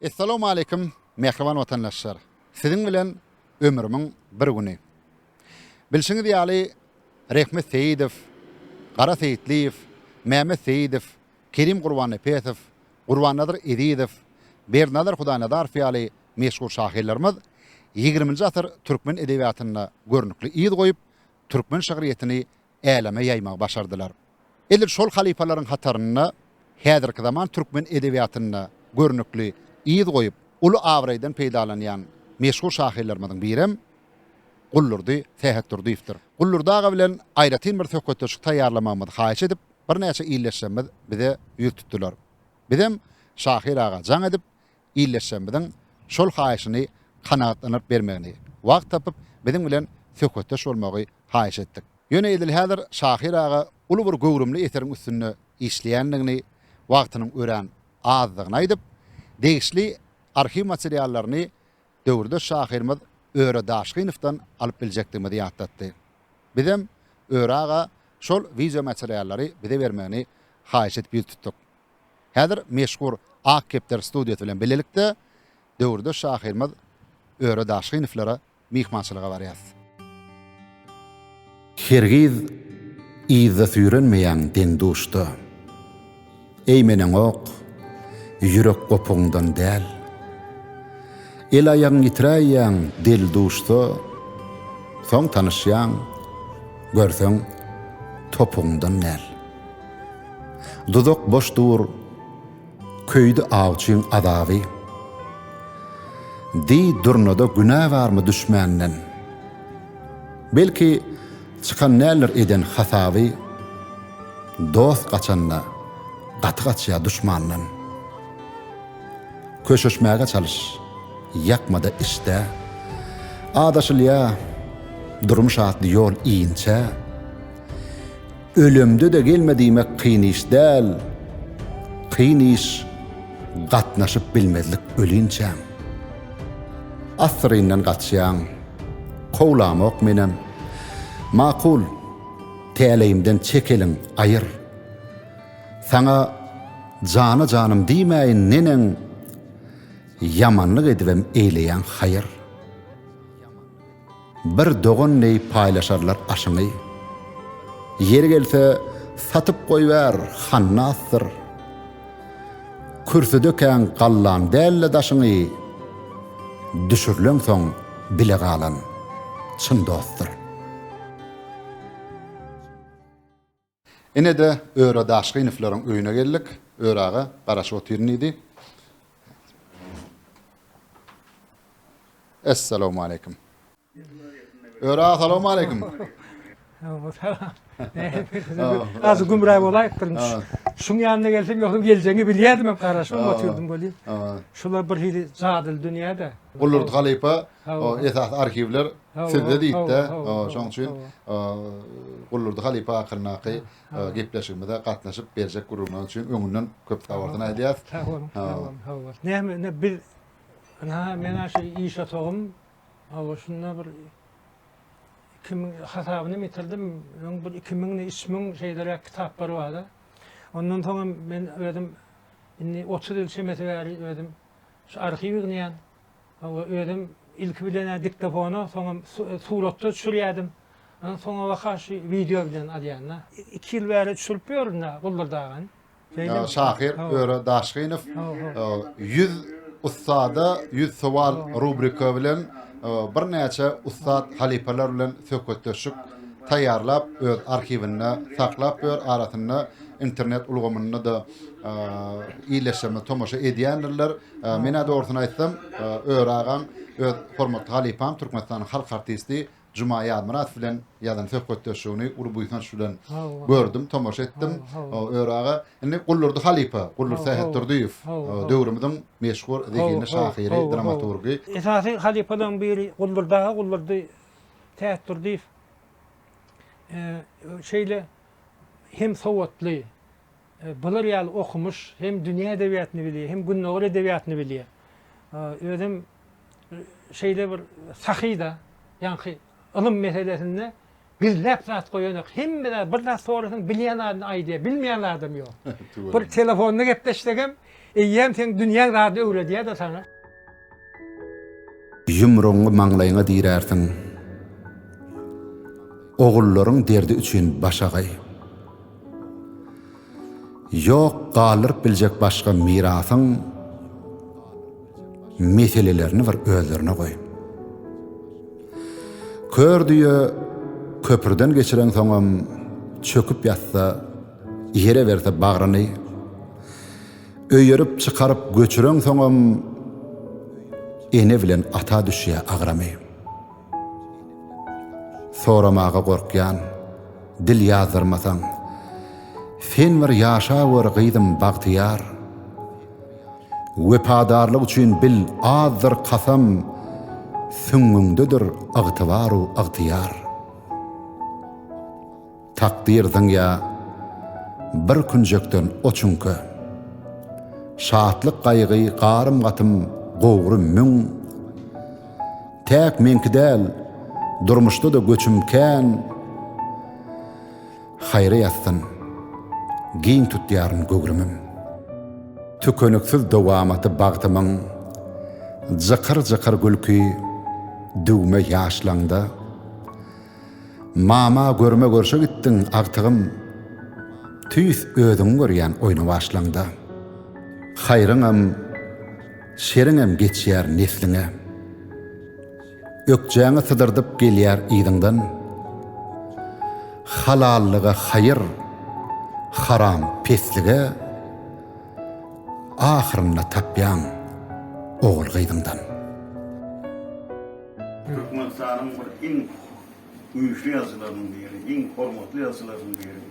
Essalamu Aleýkum mähriban watandaşlar! Siziň bilen ömrümiň bir güni. Bilşiňiz ýaly, Rehmet Seýidow, Gara Seýitliýew, Mehmet Seýidow, Kerim Gurbannepesow, Gurbannazar Ezizow, Berdinazar Hudaýnazarow ýaly meşhur şahyrlarymyz ýigriminji asyr türkmen edebiýatynda görnükli yz goýup, türkmen şygryýetini äleme ýaýmagy başardylar. Edil şol halypalaryň hatarynda häzirki zaman türkmen edebiýatynda görnükli yz goýup, uly abraýdan peýdalanýan meşhur şahyrlarymyzyň birem Guldurdy Sähetdurdyýewdir. Guldurdy aga bilen aýratyn bir söhbetdeşlik taýýarlamagymyzy haýyş edip, birnäçe ildeşlerimiz bize ýüz tutdular. Bizem şahyr aga jaň edip, ildeşlerimiziň şol haýyşyny kanagatlandyryp bermegini, wagt tapyp biziň bilen söhbetdeş bolmagy haýyş etdik. Ýöne edil häzir şahyr aga uly bir göwrümli eseriň üstünde işleýändigini, wagtynyň örän azdygyny aýdyp, degişli arhiw materiallaryny döwürdeş şahyrymyz Öre Daşgynowdan alyp biljekdigimizi ýatlatdy. Bizem Öre aga şol wideomateriallary bize bermegini haýyş edip ýüz tutduk. Häzir meşhur Ak kepder studiýasy bilen bilelikde döwürdeş şahyrymyz Öre Daşgyniwlara myhmançylyga barýarys. Hergiz yzda süýrenmeýäň deň-duşda. Eýmeneňok, ýürek gopugyňdan däl. El-aýagyň ýitiräýýäň del-duşda, soň tanyşýaň, görseň, topugyňdan däl. Duzak boş dur, köýdi awçyň azaby. Diý, Durnada günä barmy düşmänden? Belki, çykan däldir eden hasaby. Dost gaçanda, gaty gaçýar duşmandan. Köşeşmäge çalyş, ýakma-da içde. Adaşylýar, durmuş atly ýol inçe. Ölemde-de gelme diýmek kyn iş däl, kyn iş gatnaşyp bilmezlik ölinçäň. Assyryndan gaçýaň, kowlamok menem. Makul, täleýimden çek eliň, aýyr. Saňa jana janym diýmäýin neneň, ýamanlyk edibem eýleýäň haýyr. Bir dogan deý paýlaşarlar aşyňy. Ýeri gelse, satyp goýber, hannasdyr. Kürsüdekäň gallaň däl-de daşyňy, düşürileňsoň bile galan, çyn dostdur. Ine-de, Öre Daşgynowylaryň öýüne geldik. Öre aga, garaşyp otyryn diýdi. Essalawmaleýkim. Öre aga, salawmaleýkim. Azy gümra bolaýypdyryn. Şuň ýanyna gelsem, ýogsam geljegiňi bilýärdim hem garaşyp otyrdym welin. Şular birhili jadyly dünýä-de. Gulurt halypa, o esasy arhiwler. Sizde diýipdi. Şoň üçin Guldurdy halypa hakyndaky gepleşigimize gatnaşyp berjek gürrüňiňiz üçin öňünden köp sag bolsun aýdýas. Sag boluň, sag boluň, sag boluň. Näme indi biz ynha men-ä şu iş otagym hawa şunda bir iki müň hasabynam ýitirdim. Öň bir iki müňden üç müň şeýleräk kitaplar bar-a. Ondan soň hem men özüm indi otuz ýyl çemesi bäri özüm şu arhiw ýygnýan. Hawa, özüm ilki bilen-ä diktofona, soňam suratda düşürýärdim. Ýöne soňabaka şu wideo bilen alýan-da. Iki ýyl bäri düşürip ýörün-ä Guldur-dagan. Şahyr Öre Daşgynow Ýüz ussada ýüz sowal rubrika bilen birnäçe ussat halypalar bilen söhbetdeşlik taýýarlap, öz arhiwinde saklap ýör, arasynda internet ulgamynda-da ýerleşdirme tomaşa edýändirler. Menä dogrusyny aýtsam, Öri agaň öz hormatly halypam, Türkmenistanyň halk artisti Juma Ýazmyradow bilen ýazan söhbetdeşligini uly buýsanç bilen gördüm, tomaşa etdim. Öri aga, indi Guldurdy halypa, Guldur Sähetdurdyýew, döwrümiziň meşhur zehinli şahyry, dramaturgy. Esasy halypalaryň biri Guldurdy aga, Guldurdy Sähetdurdyýew şeýle hem sowatly, Bular ýaly okumyş, hem dünýä edebiýatyny bilýär, hem gündogar edebiýatyny bilýär. Özem şeýle bir sahy-da, ýaňky ylym meselesinde gizläp zat goýanok. Hemme zat, bir zat sorasaň, bilýän zadyny aýdýar, bilmeýän zadam ýok. Bir telefonda gepleşsegem, Eýýäm seň dünýäň zady öwredýär-de saňa. Ýumrugyňy maňlaýyňa dirärsiň. Ogullaryň derdi üçin baş agaý. Ýok galdyryp biljek başga mirasyň, meselelerini bir özlerine goý. Kör düýe köprüden geçireňsoňam çöküp ýatsa, Ýere berse bagryny Öýerip çykaryp göçüreňsoňam Ene bilen ata düşýä agramy. Soramaga gorkýan, dil ýazdyrmasaň Sen bir ýaşawör gyzym bagtyýar. Wepadarlyk üçin bil azdyr kasam Süňňüňdedir ygtybar-u ygtyýar. Takdyr zyňýa bir künjekden o çüňke. Şatlyk-gaýgy, garym-gatym, gowry müň. Täk meňki däl, durmuşda-da göçüm kän. Haýra ýatsyn, giň tutýaryn göwrümim. Tükeniksiz dowamaty bagtymyň, Jykyr-jykyr gülki, düwme ýaşlaňda. Mama görme görşe gitdiň agtygym tüýs özüňi görýän oýna başlaňda haýryňam şeriňem geçýär nesliňe ökjäňi sydyrdyp gelýär yzyňdan halallyga haýyr haram peslige ahyrynda tapýaň ogul gyzyňdan. Türkmenistanyň bir iň güýçli ýazyjylarynyň biri, iň hormatly ýazyjylarynyň biri,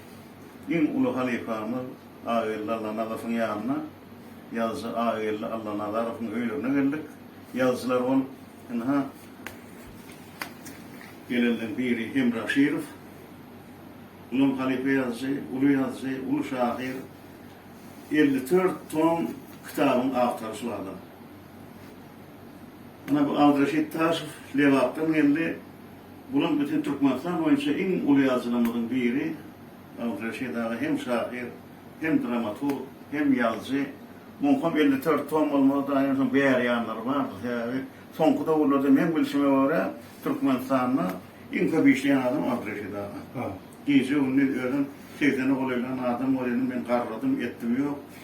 iň uly halypamyz Ageldi Allanazarowyň ýanyna, ýazyjy Ageldi Allanazarowyň öýlerine geldik. Ýazyjylar bolup, ynha, gelenleriň biri Hemra Aşyrow. Ol hem halypa ýazyjy, uly ýazyjy, uly şahyr. Elli dört tom kitabyň awtory şul adam. Ana bu Aldyrşit Taşow Lebapdan geldi. Bulam bütin Türkmenistan boýunça iň uly ýazyjylarymyzyň biri. Aldyrşit aga hem şahyr, hem dramaturg, hem ýazyjy. Muňkam elli dört tom bolmaz daýy onsoň bäri ýanlary bardyr. Sebäbi soňky döwürlerde meň bilşime görä Türkmenistanda iň köp işleýän adam Aldyrşit aga. Gije gündiz özem segsene golaýlan adam bor ýaly men garradym etdim ýok.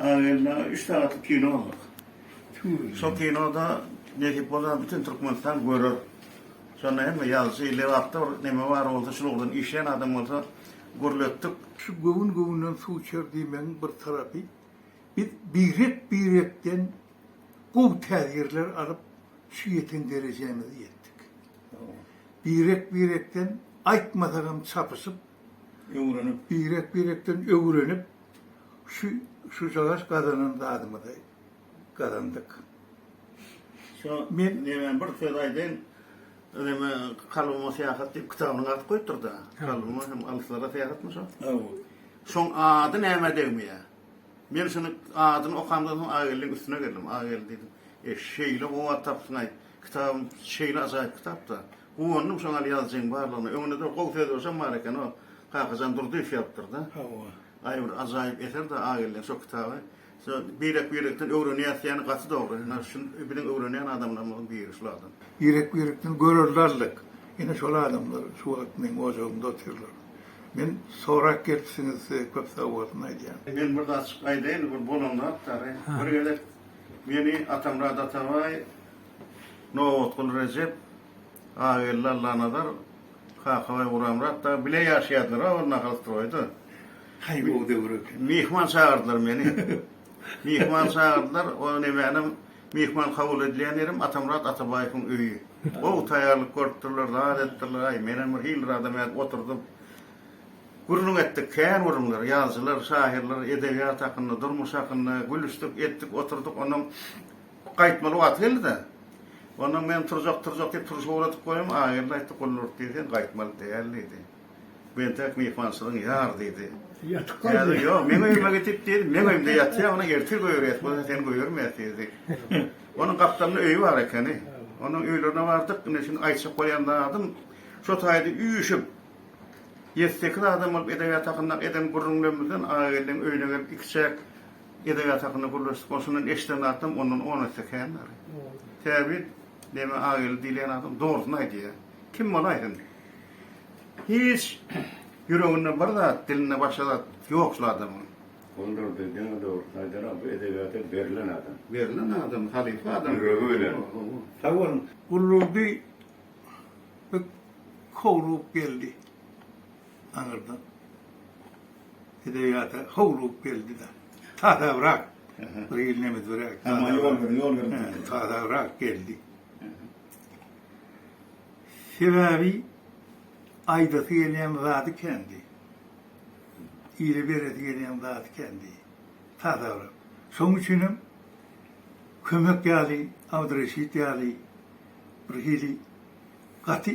Az geldi, üç sagatlyk kino boldy. Şol kinoda nesip bolsa bütin Türkmenistan görer. Şonda hemme ýazyjy, redaktor, neme bar bolsa şul ugurdan işleýän adam bolsa gürletdik. Şu göwün göwünden suw içer diýmegiň bir tarapy, biz birek-birekden gowy täsirler alyp, şu ýeten derejämize ýetdik. Birek-birekden aýtmasagam çapyşyp, öwrenip, birek-birekden öwrenip, Şu şu şalaş gazanan zadymyzy gazandyk. Şu Men nemäň bir söz aýdaýyn. Öneme kalbyma syýahat diýip kitabynyň ady goýupdyrda. Kalbyma hem alyslara syýahatmy şo? Hawa. Şoň ady nämä degmeýä. Men şuny adyny okamdan soň Ageldiň üstüne geldim. Ageldi diýdim. E şeýle gowy at tapypsyň-aý. Kitabyň şeýle ajaýyp kitap-da. Guwandym şoňa ýazyjyň barlygyna. Öňünde-de gowy sözbaşam bar eken o Kakajan Durdyýew ýazypdyrda. Hawa. Aý bir ajaýyp eser-de Ageldiň şo kitaby. Şo birek-birekden öwrenýäs diýeni gaty dogry. Ine şu biziň öwrenýän adamlarymyzyň biri şul adam. Birek-birekden görerlerlik. Ine şol adamlar şu wagt meň ojagymda otyrlar. Men sorap gelipsiňiz size köp sagbolsun aýdýan. Men bir zat açyk aýdaýyn bir bolan zat dagy. Bir gezek meni Atamyrat Atabaý, Nobatguly Rejep, Agelli Allanazar Kakabaý guramrak dagy bile ýaşaýardylar-a ol nahalstroýda. Haýby o döwür eken. Myhman çagyrdylar meni. Myhman çagyrdylar, o nemänem myhman kabul edilýän ýerim Atamyrat Atabaýewiň öýi. Gowy taýýarlyk görüpdirler, zat etdirler, aý menem bir hil zadam edip oturdym. Gürrüň etdik, kän gürrüňler, ýazyjylar, şahyrlar, edebiýat hakynda, durmuş hakynda gülüşdik, etdik, oturduk, onnoň Gaýtmaly wagty geldi-de. Ondan men turjak, turjak diýip turşy ugradyp goýdum. Ageldi aýtdy, Gullurt diý sen gaýtmaly däl diýdi. Bu entek myhmançylygyň ýar diýdi. Ýatyp gaýt. Häzir ýok, meň öýüme gidip diýdi, meň öýümde ýatýa, ony ertir göýerýäs, bu seni göýermeýäs diýdi. Onuň gapdalynda öýi bar ekeni. Onuň öýlerine bardyk, ine şindi aýtjak bolýan zadym, şo taýda üýşüp, ýedi-sekiz adam bolup edebiýat hakyndaky eden gürrüňlerimizden Ageldiň öýüne gelip ikiçäk Edebiýat hakynda gürleşdik. Ol şondan eşiden zatym ondan on esse kändir. Säbit Deme Ageli diýilýän adam dogrusyny aýdýar. Kim bol aýtsyn. Hiç ýüreginde bir zat, dilinde başga zat ýok şul adamyň. Ondur diý, diňe dogrusyny aýdar-a, bu edebiýata berlen adam. Berlen adam, halypa adam. Ýüregi bilen. Sag boluň. Gullurdy köwrugyp geldi aňyrdan. Edebiýata howlugyp geldi-de, tasabrak, bir ýyl nemesbiräk, tasabrak geldi. Sebäbi aýdasy gelýän zady kändi. Ile beresi gelýän zady kändi. Tasabrak. Şonuň üçin hem kömek ýaly, Abdyreşit ýaly bir hili gaty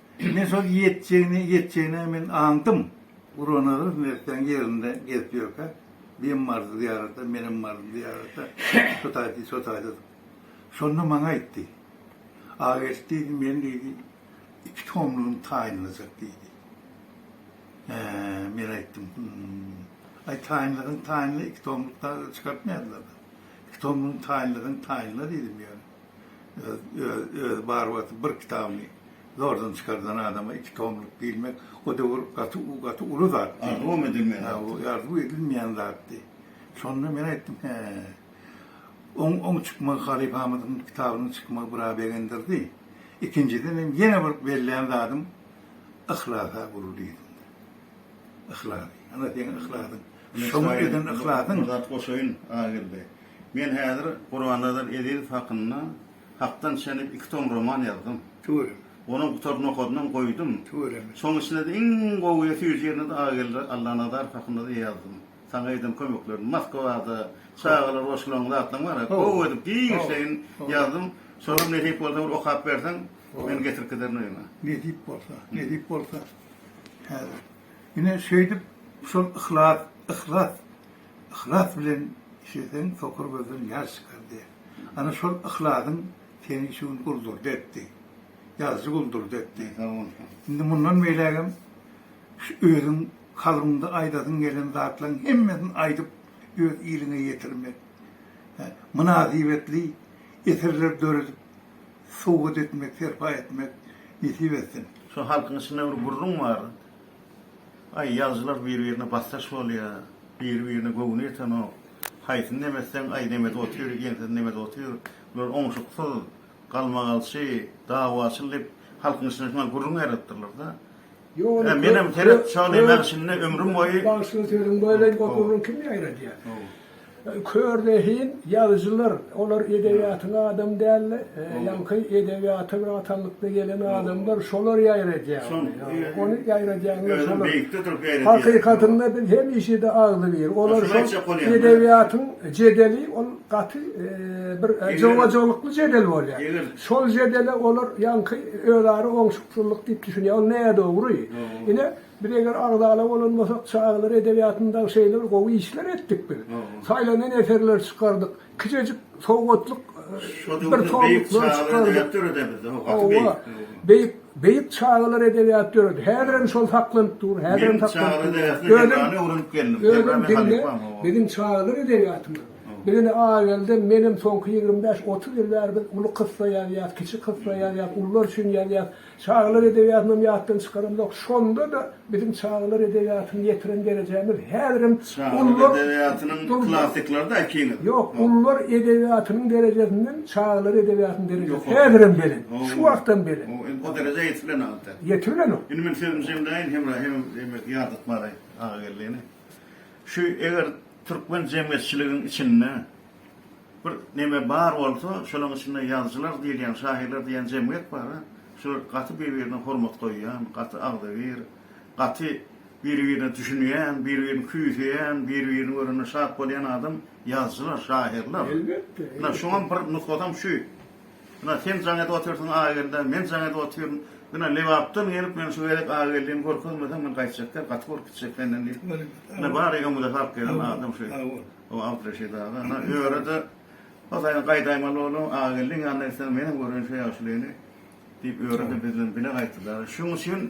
Men şol ýetjegini, ýetjegini men aňdym. Gurbannazar mertleň ýerinde gezip ýörkä, Bem bardy zyýarata, menem bardym zyýarata, şo taýda, şo taýda. Şonda maňa aýtdy. Ageldi diýdi, men diýdi, iki tomlugym taýynlajak diýdi. Hä, men aýtdym, hum. Aý, taýynlasaň taýynla, iki tomluk da çykartmaýarlar-da. Iki tomlugyň taýynlasaň taýynla diýdim ýöne. Öz barybir bir kitabyny zordan çykardan adama iki tomluk diýilmek o döwür gaty uly zat. Arzuwam edilmeýän zat. Arzuw edilmeýän zatdy. Şonda men aýtdym, hä. Oň çykmagy halypamyzyň kitabynyň çykmagy biraz begendirdi. Ikinjiden hem ýene bir bellän zadym yhlasa gul diýdim. Yhlas. Ana seň yhlasyň. Şoňa eden yhlasyň. Bir zat goşaýyn Ageldi. Men häzir Gurbannazar Ezizow hakynda Hakdan çenip iki tom roman ýazdym. Tüweleme. Onuň gutaryny okadymam, goýdum. Tüweleme. Şoň içinde-de iň gowy we süýji ýerini-de Agageldi Allanazarow hakynda-da ýazdym. Saňa eden kömeklerini Moskwada, çagalar goşularyň zatlaryň bar-a, gowy edip, giňişleýin ýazdym. Şolary nesip bolsa bir okap berseň, men getirip giderin öýüňe. Nesip bolsa, nesip bolsa. Häzir. Ine, şeýdip, şol yhlas, yhlas. Yhlas bilen işleseň sokur gözden ýaş çykar diýer. Ana şol yhlasyň seni şu gün guldurdy etdi. Ýazyjy guldurdy etdi. Indi mundan beýlägem şu özüň kalbyňda aýdasyň gelen zatlaryň hemmesini aýdyp öz iliňe ýetirmek, mynasybetli eserler döredip sowgat etmek, serpaý etmek nesip etsin. Şu halkyň içinde bir gürrüň bar. Aý ýazyjylar bir birine basdaş bolýa biri birine göwni ýetenok haýsyny nemetseň aý nemet otyr ýeňsesini nemet otyr bular oňşuksyz galmagalçy dawaçyl dip halkyň içinde şuňa gürrüň ýaratdyrlarda ýa menem seret şony men şindi ömrüm boýy bagşynyň sözüň boýlaýyn gop gürrüň kim ýaýradýa. Kör zehin ýazyjylar, olar edebiýatyň adamy däldi, ýaňky edebiýata bir atanlykda gelen adamlar, şolar ýaýradýar ony, ony ýaýradýanlar şolar. Hakykatynda biz hemişe-de agzybir, olar şol edebiýatyň jedeli, ol gaty bir jogajolukly jedel bolýar. Şol jedele olar ýaňky özara oňşuksyzlyk diýip düşünýär, ol nädogry. Ine, Biz eger agzala bolan bolsak, çagalar edebiýatynda şeýle bir gowy işler etdik biz. Saýlanan eserleri çykardyk. Kiçejik sowgatlyk bir tomluklar çykardyk. Hawa, beýik, beýik çagalar edebiýaty döredi. Häzir hem şol saklanyp dur, häzir hem saklanyp dur. Özüm, özüm diňle, biziň çagalar edebiýatymyz. Biz indi Agelden, menem soňky ýigrimi bäş, otuz ýyl bäri biz uly kyssa ýazýas, kiçi kyssa ýazýas, ulular üçin ýazýas. Çagalar edebiýatynam ýatdan çykaramzok. Şonda-da biziň çagalar edebiýatyny ýetiren derejämiz häzirem Çagalar edebiýatynyň klassiklary-da äkiňiz. Ýok, ullar edebiýatynyň derejesinden çagalar edebiýatynyň derejesi häzirem belent. Şu wagtam belent. Indi o derejä ýetip bilenok entek. Ýetip bilenok. Indi men sözümi jemläýin, Hemra hem diýmek ýadyp bary Agageldini. Şu eger türkmen jemgyýetçiligiň içinde Bir neme bar bolsa, şolaň içinde ýazyjylar diýilýän, şahyrlar diýýän jemgyýet bar-a. Şular gaty bir-birine hormat goýýan, gaty agzybir, gaty bir-birine düşünýän, bir-birini küýseýän, bir-birini görende şat bolýan adam ýazyjylar, şahyrlar. Elbetde. Ynha, şuňam bir nusgasam şu. Ynha, sen jaň edip otyrsyň Agelda, men jaň edip otyryn. Ynha, Lebapdan gelip, men şu gezek Ageldini görkezmeseň, men gaýtjak däl, gaty bolup gitjek senden diýip. Ynha, bary öňümize salyp gelen adam şu. O Abdreşid aga, ana, öre-de, hozaýyn, gaýdaýmaly boldum, Agageldiň ýanyna gitseň, menem göreýin şo ýagşylygyny, diýip, öre-de biz bilen bile gaýtdy dagy. Şonuň üçin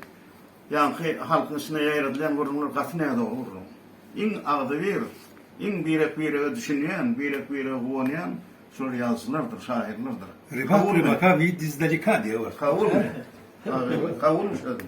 ýaňky halkyň içinde ýaýradylýan gürrüňler gaty nädogry gürrüň. Iň agzybir, iň birek-birege düşünýän, birek-birege guwanýan şol ýazyjylardyr, şahyrlardyr. Rybat rybatka widz izdaleka diýýär. Kowulmy? Kowulmyş özüm.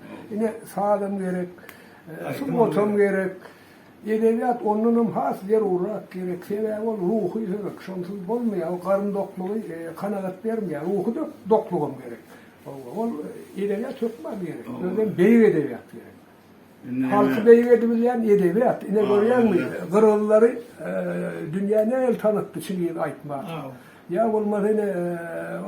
Ine, sazam gerek, sungatam gerek. Edebiýat ondan hem has zerurat gerek. Sebäbi ol ruhy höwek. Şonsyz bolmaýar. Ol garyn doklugy kanagat bermeýär. Ruhy doklugam gerek. Ol edebiýat hökman gerek. Özem beýik edebiýat gerek. Halky beýik edibilýän edebiýat. Ine, görýäňmi, gyrgyzlary dünýä nähili tanatdy, çyn ýygy aýtmak. Ýa bolmasa ine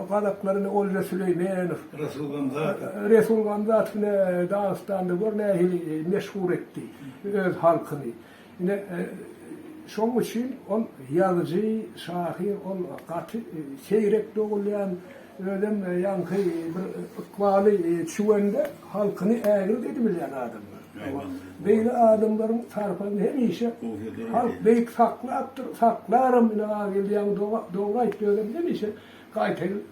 gazaklar ine Olja Süleýmenow, Resul Gamzatow. Resul Gamzatow ine Dagystanda gör nähili meşhur etdi öz halkyny. Ine şoň üçin ol ýazyjy, şahyr ol gaty seýrek dogulýan, özem ýaňky bir ykbaly çüwende halkyny ägirt edibilýän adamlar. Beýle adamlaryň sarpasyny hemişe halk beýik saklapdyr, saklaram ine Agilýaň dogry aýtdy özem hemişe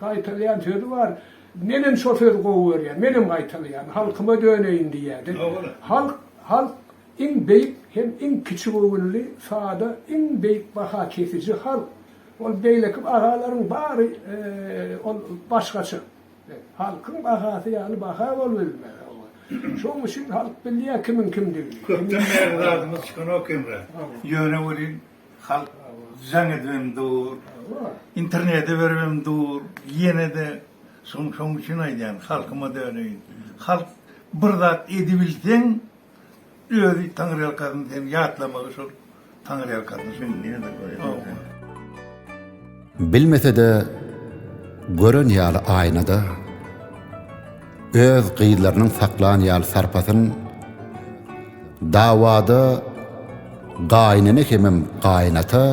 gaýtalaýan sözi bar, menem şo sözi gowy görýän, menem gaýtalaýan, halkyma döneýin diýýädi. Halk, halk iň beýik hem iň kiçigöwünli, sada, iň beýik baha kesiji halk. Ol beýleki bahalaryň bary ol başgaça. Halkyň bahasy ýaly baha bolbilmez. Şoň üçin halk bilýär kimiň kimdigini. Köpden bäri zadymyz çykanok hemra. Ýöne welin halk jaň edibem dur, internete beribem dur, ýene-de şoň üçin aýdýan halkyma döneýin. Halk bir zat edibilseň, Özi taňryýalkasyn sen ýatlamagy şol taňryýalkasyn şol. Bilmesede gören ýaly aýnada öz gyzlarynyň saklan ýaly sarpasyn dawada gaýynene hemem gaýynata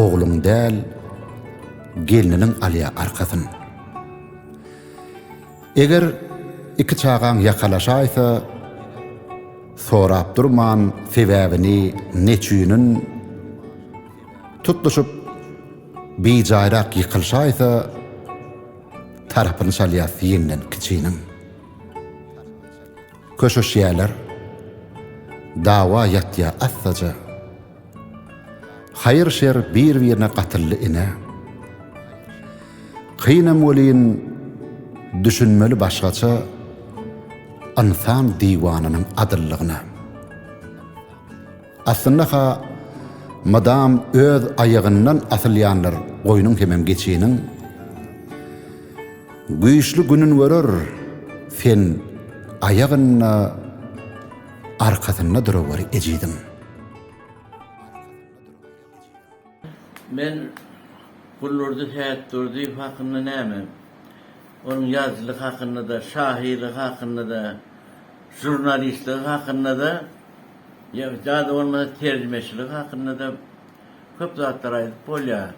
ogluň däl gelniniň alýa arkasyn. Eger iki çagaň ýakalaşaýsa, sorap durman sebäbini neçünin, tutluşyp bijaýrak ýykylşaýsa, tarapyny çalýas ýeňden kiçiniň. Köşeşýäler, dawa ýatýa assaja. Haýyr-şer bir-birine gatyldy ine. Kynam welin, düşünmeli başgaça Ynsan diwananyň adyllygyna. Aslynda-ha, mydam öz aýagyndan asylýandyr goýnuň hemem geçiniň. Güýçli günün görer, sen aýagynda. arkasynda duraweri ejiziň. Men Gullurdy Sätdurdyýew hakynda näme, onuň ýazyjylygy hakynda-da, şahyrlygy hakynda-da, žurnalistligi hakynda-da, ýa-da bolmasa terjimeçiligi hakynda-da köp zatlar aýdyp bolýar.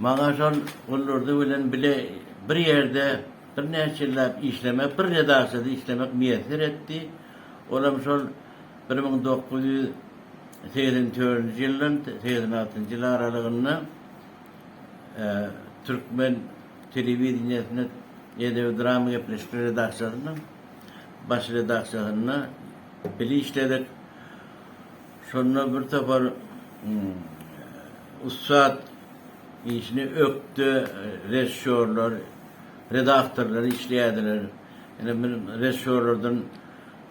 Maňa şol Gullurdy bilen bile bir ýerde Birnäçe ýylläp işlemek, bir redaksiýada işlemek miýesser etdi. Ol hem şol bir müň dokuz ýüz segsen törünji ýyldan segsen altynjy ýyl aralygynda türkmen telewideniýesinde Edebi-drama gepleşikler redaksiýasynyň baş redaksiýasynda bile işledik. Şonda birtopar ussat Işini ökde režissýorlar, redaktorlar işleýärdiler. Ine, bir režissýorlardan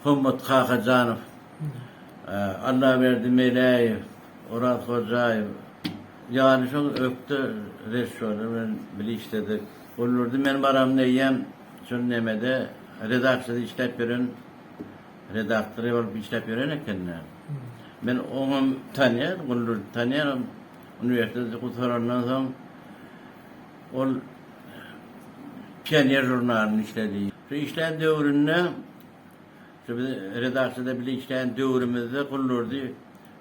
Hommat Kakajanow, Allaberdi Meläýew, Oraz Hojaýew ýaly şol ökde režissýorlar bilen bile işledik. Olarda men baram diýýän, şol nemede redaksiýada işläp ýören redaktory bolup işläp ýören ekeni. Men oňam tanýan, Guldurdy tanýanam. Uniwersiteti gutarandan soň, ol Pioner žurnalynda işledi. Şu işlän döwründe, şu biz redaksiýada bile işlän döwrümizde Guldurdy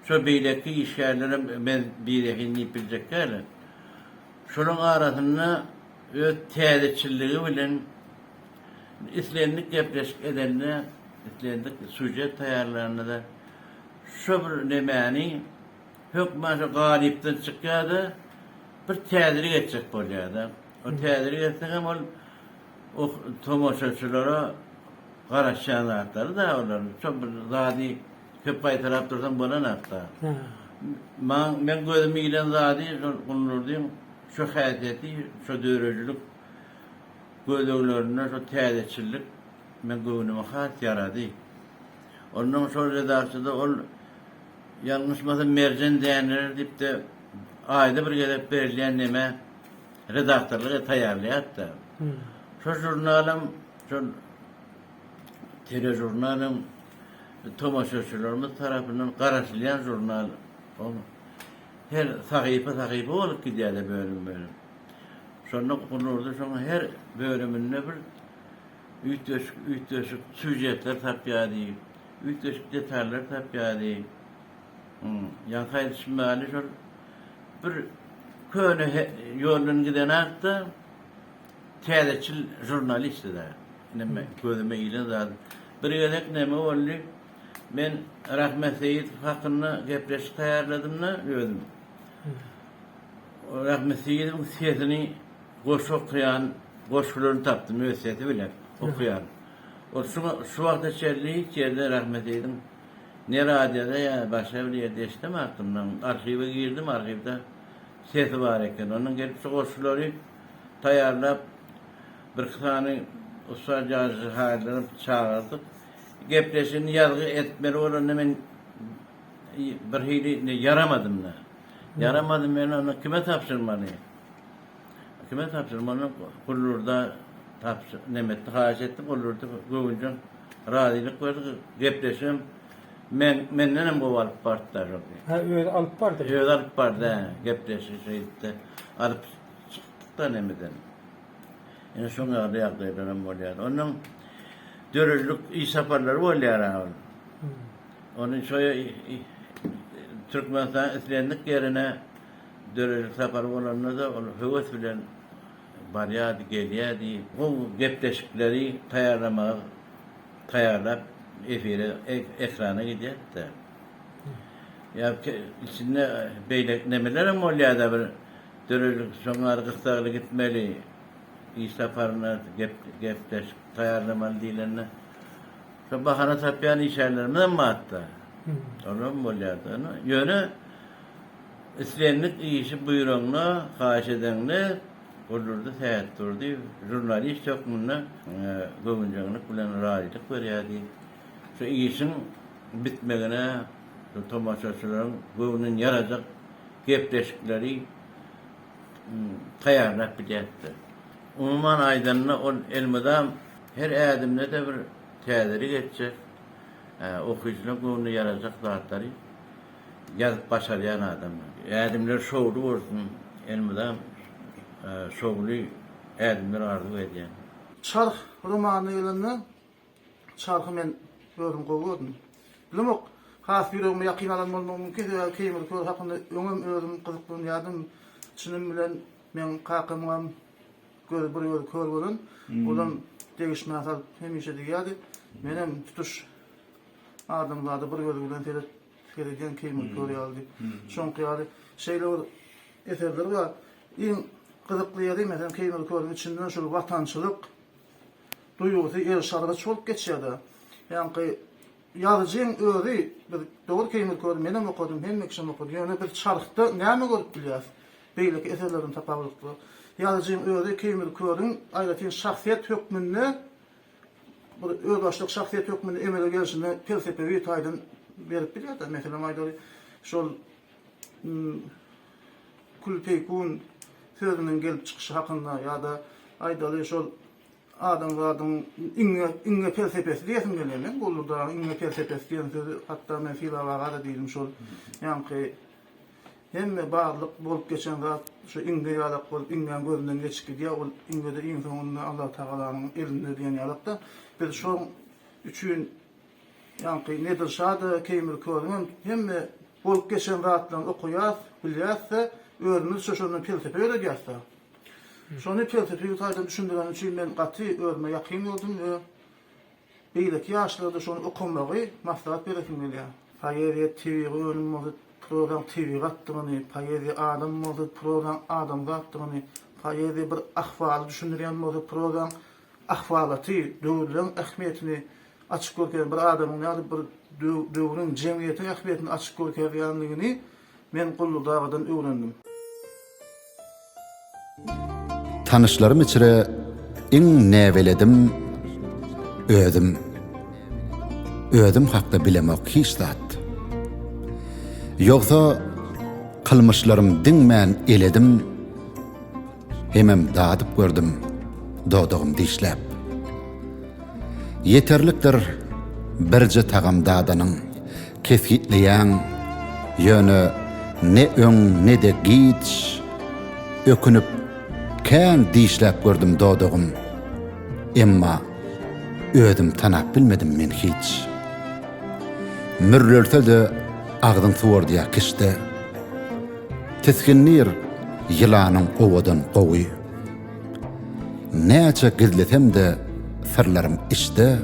şo beýleki işgärlerem men birehin diýip biljek dälin. Şolaryň arasynda öz täzeçilligi bilen islendik gepleşik edende, islendik sýužet taýýarlanda-da şo bir nemäni, Hökman şo galypdan çykýar-da, bir täzelik etjek bolýar-da. O täzelik etse hem ol o tomaşaçylara garaşýan zatlary-da olar. Şo bir zady köp gaýtalap dursaň bolan zat-da. Maň, meň gözüme ilen zady şo Guldurdyň şo häsiýeti, şo döredijilik gözleglerinde şo täzeçillik meň göwnüme has ýarady. Onnoň şo redaksiýada ol. Ýalňyşmasam Merjen Däneler diýipdi. Aýda bir gezek berilýän neme redaktorlyk edip taýýarlaýardy-da. Şo žurnalam, şol teležurnalam tomaşaçylarymyz tarapyndan garaşylýan žurnal. Ol her sahypa-sahypa bolup gidýärdi bölüm-bölüm. Şonda Gulnurda şoň her bölüminde bir üýtgeşik-üýtgeşik sýužetler tapýardy. Üýtgeşik detallary tapýardy. Ýaňky aýdyşym ýaly şol bir köne ýoldan giden atda täzeçil žurnalistdi-dä. Ine men gözüme ilen zat. Bir gezek näme boldy? Men Rahmet Seýidow hakynda gepleşik taýýarladym-da özüm. Rahmet Seýidowyň sesini goşgy okaýan goşgularyny tapdym öz sesi bilen okaýan. Ol şu wagta çenli hiç ýerde Rahmeteýliň ne radioda ýa başga bir ýerde eşidemapdym. Soň arhiwe girdim, arhiwde sesi bar eken. Ondan gelip şu goşgulary taýýarlap, birki sany ussat ýazyjy haýyrlary çagyrdyk. Gepleşigini ýazgy etmeli bolanda men birhili ýaramadym-da. Ýaramadym, men onda kime tabşyrmaly? Kime tapşyrmalyň? Gullurda tapşyr, nemetdi, haýyş etdi. Gullurdy göwünjeň razylyk berdi. Gepleşigem men, mendenem gowy alyp bardy daş oldy. Ha, özi alyp bardy. Özi alyp bardy, hä, gepleşigi şeýdip-de alyp çykdyk-da nemeden. Ine şoň ýaly ýagdaýlaram bolýar. Ondan döredilik iş saparlary bolýar ha ol. Ony şo Türkmenistanyň islendik ýerine Dörelik sapar bolanda-da ol höwes bilen barýardy, gelýärdi. Ol gepleşikleri taýýarlamaga taýýarlap, efire, ekrana gidýärdi-de. Ýa içinde beýle nemelerem bolýardy, bir Dörelik şoňňar gyssagly gitmeli, iş saparyna gepleşik taýýarlamaly diýlende, şo bahana tapýan işgärlerimiz hem bardy-da. Olar hem bolýardy. Ýöne. Islendik işi buýraňda, haýyş edeňde Gurdurdy Sähetdurdyýew žurnalist hökmünde göwünjeňlik bilen razylyk berýär diýip, şu işiň bitmegine şu tomaşaçylaryň göwnüni ýarajak gepleşikleri taýýarlap gidýärdi. Umuman aýdanda, ol elmydam her ädimde-de bir täzelik etjek, okyjylaryň göwnüne ýarajak zatlary Ýazyp başarýan adam. Ädimler şowly bolsun elmydam şowly ädimler arzuw edýän. Çarh romanyna gelende Çarhy men özüm gowy gördüm. Bilemok, has ýüregime ýakyn alan bolmagym mümkin, sebäbi Keýmir Kör hakynda öňem özüm gyzyklanýardym. Çynym bilen meň kakamyňam gözi bir gözi kör bolan. Olam degişmä salyp hemişe diýýärdi. Menem tutuş. Adamzada bir gözi bilen seret, seredýän keýmir kör ýaly diýip. Şoňky ýaly şeýle bir eserleri bar. Iň gyzykly ýeri, meselem, keýmir körüň içinden şol watançylyk duýgusy eriş-argaç bolup geçýär-de. Ýaňky ýazyjyň özi, biz dogry keýmir köri menem okadym, hemme kişem okady, ýöne biz çarhda näme görüp bilýäris, beýleki eserlerden tapawutlykda, ýazyjyň özi keýmir körüň aýratyn şahsyýet hökmünde Bir özbaşdak şahsyýet hökmünde emele gelşine pelsepewi taýdan berip bilýär-de. Meselem aýdaly, şol Kül peýkun sözüniň gelip çykyşy hakynda ýa-da aýdaly şol adamzadyň iňňe iňňe pelsepesi diýesim gelýär meň, Guldur dagyň iňňe pelsepesi diýen sözi hatda men Sylag aga-da diýdim şol ýaňky Hemme barlyk bolup geçen zat şu iňňe ýalak bolup iňňäň gözünden geçip gidýär ol iňňede iň soňunda Allah Tagalanyň elinde diýen ýalakda biz şoň üçin ýaňky Nedir şada Keýmir körüň hem hemme bolup geçen zatlaryny okaýas bilýäsde özümiz şo şondan pelsepe öwredýäsde şony pelsepiki taýdan düşündireni üçin men gaty özüme ýakyn gördüm we Beýleki ýaşlarda şony okamagy maslahat beresim gelýär. Poeziýa tebigy önüm bolsa, prozaň tebigatdygyny, poeziýa adam bolsa, prozaň adamzatdygyny, poeziýa bir ahwaly düşündirýän bolsa, prozaň ahwalaty, döwürleň ähmiýetini açyp görkezýän, bir adamyň ýa-da bir döwrüň, jemgyýetiň ähmiýetini açyp görkezýändigini Men Gully dagadan öwrendim. Tanyşlarym içre iň näbeledim özüm. Özüm hakda bilemok hiç zat. Ýogsa kylmyşlarym diňmän eledim. Hemem dadyp gördüm, dodagym dişläp. Ýeterlikdir birje tagam dadanyň, kesgitleýäň, ýöne ne öň, ne-de giç, ökünip, kän dişläp gördüm dodagym, emma özüm tanap bilmedim men hiç. Mürrelse-de agzyň suwardýa kişde. Tisgindir ýylanyň owadan owy. Näçe gizlesem-de syrlarym içde,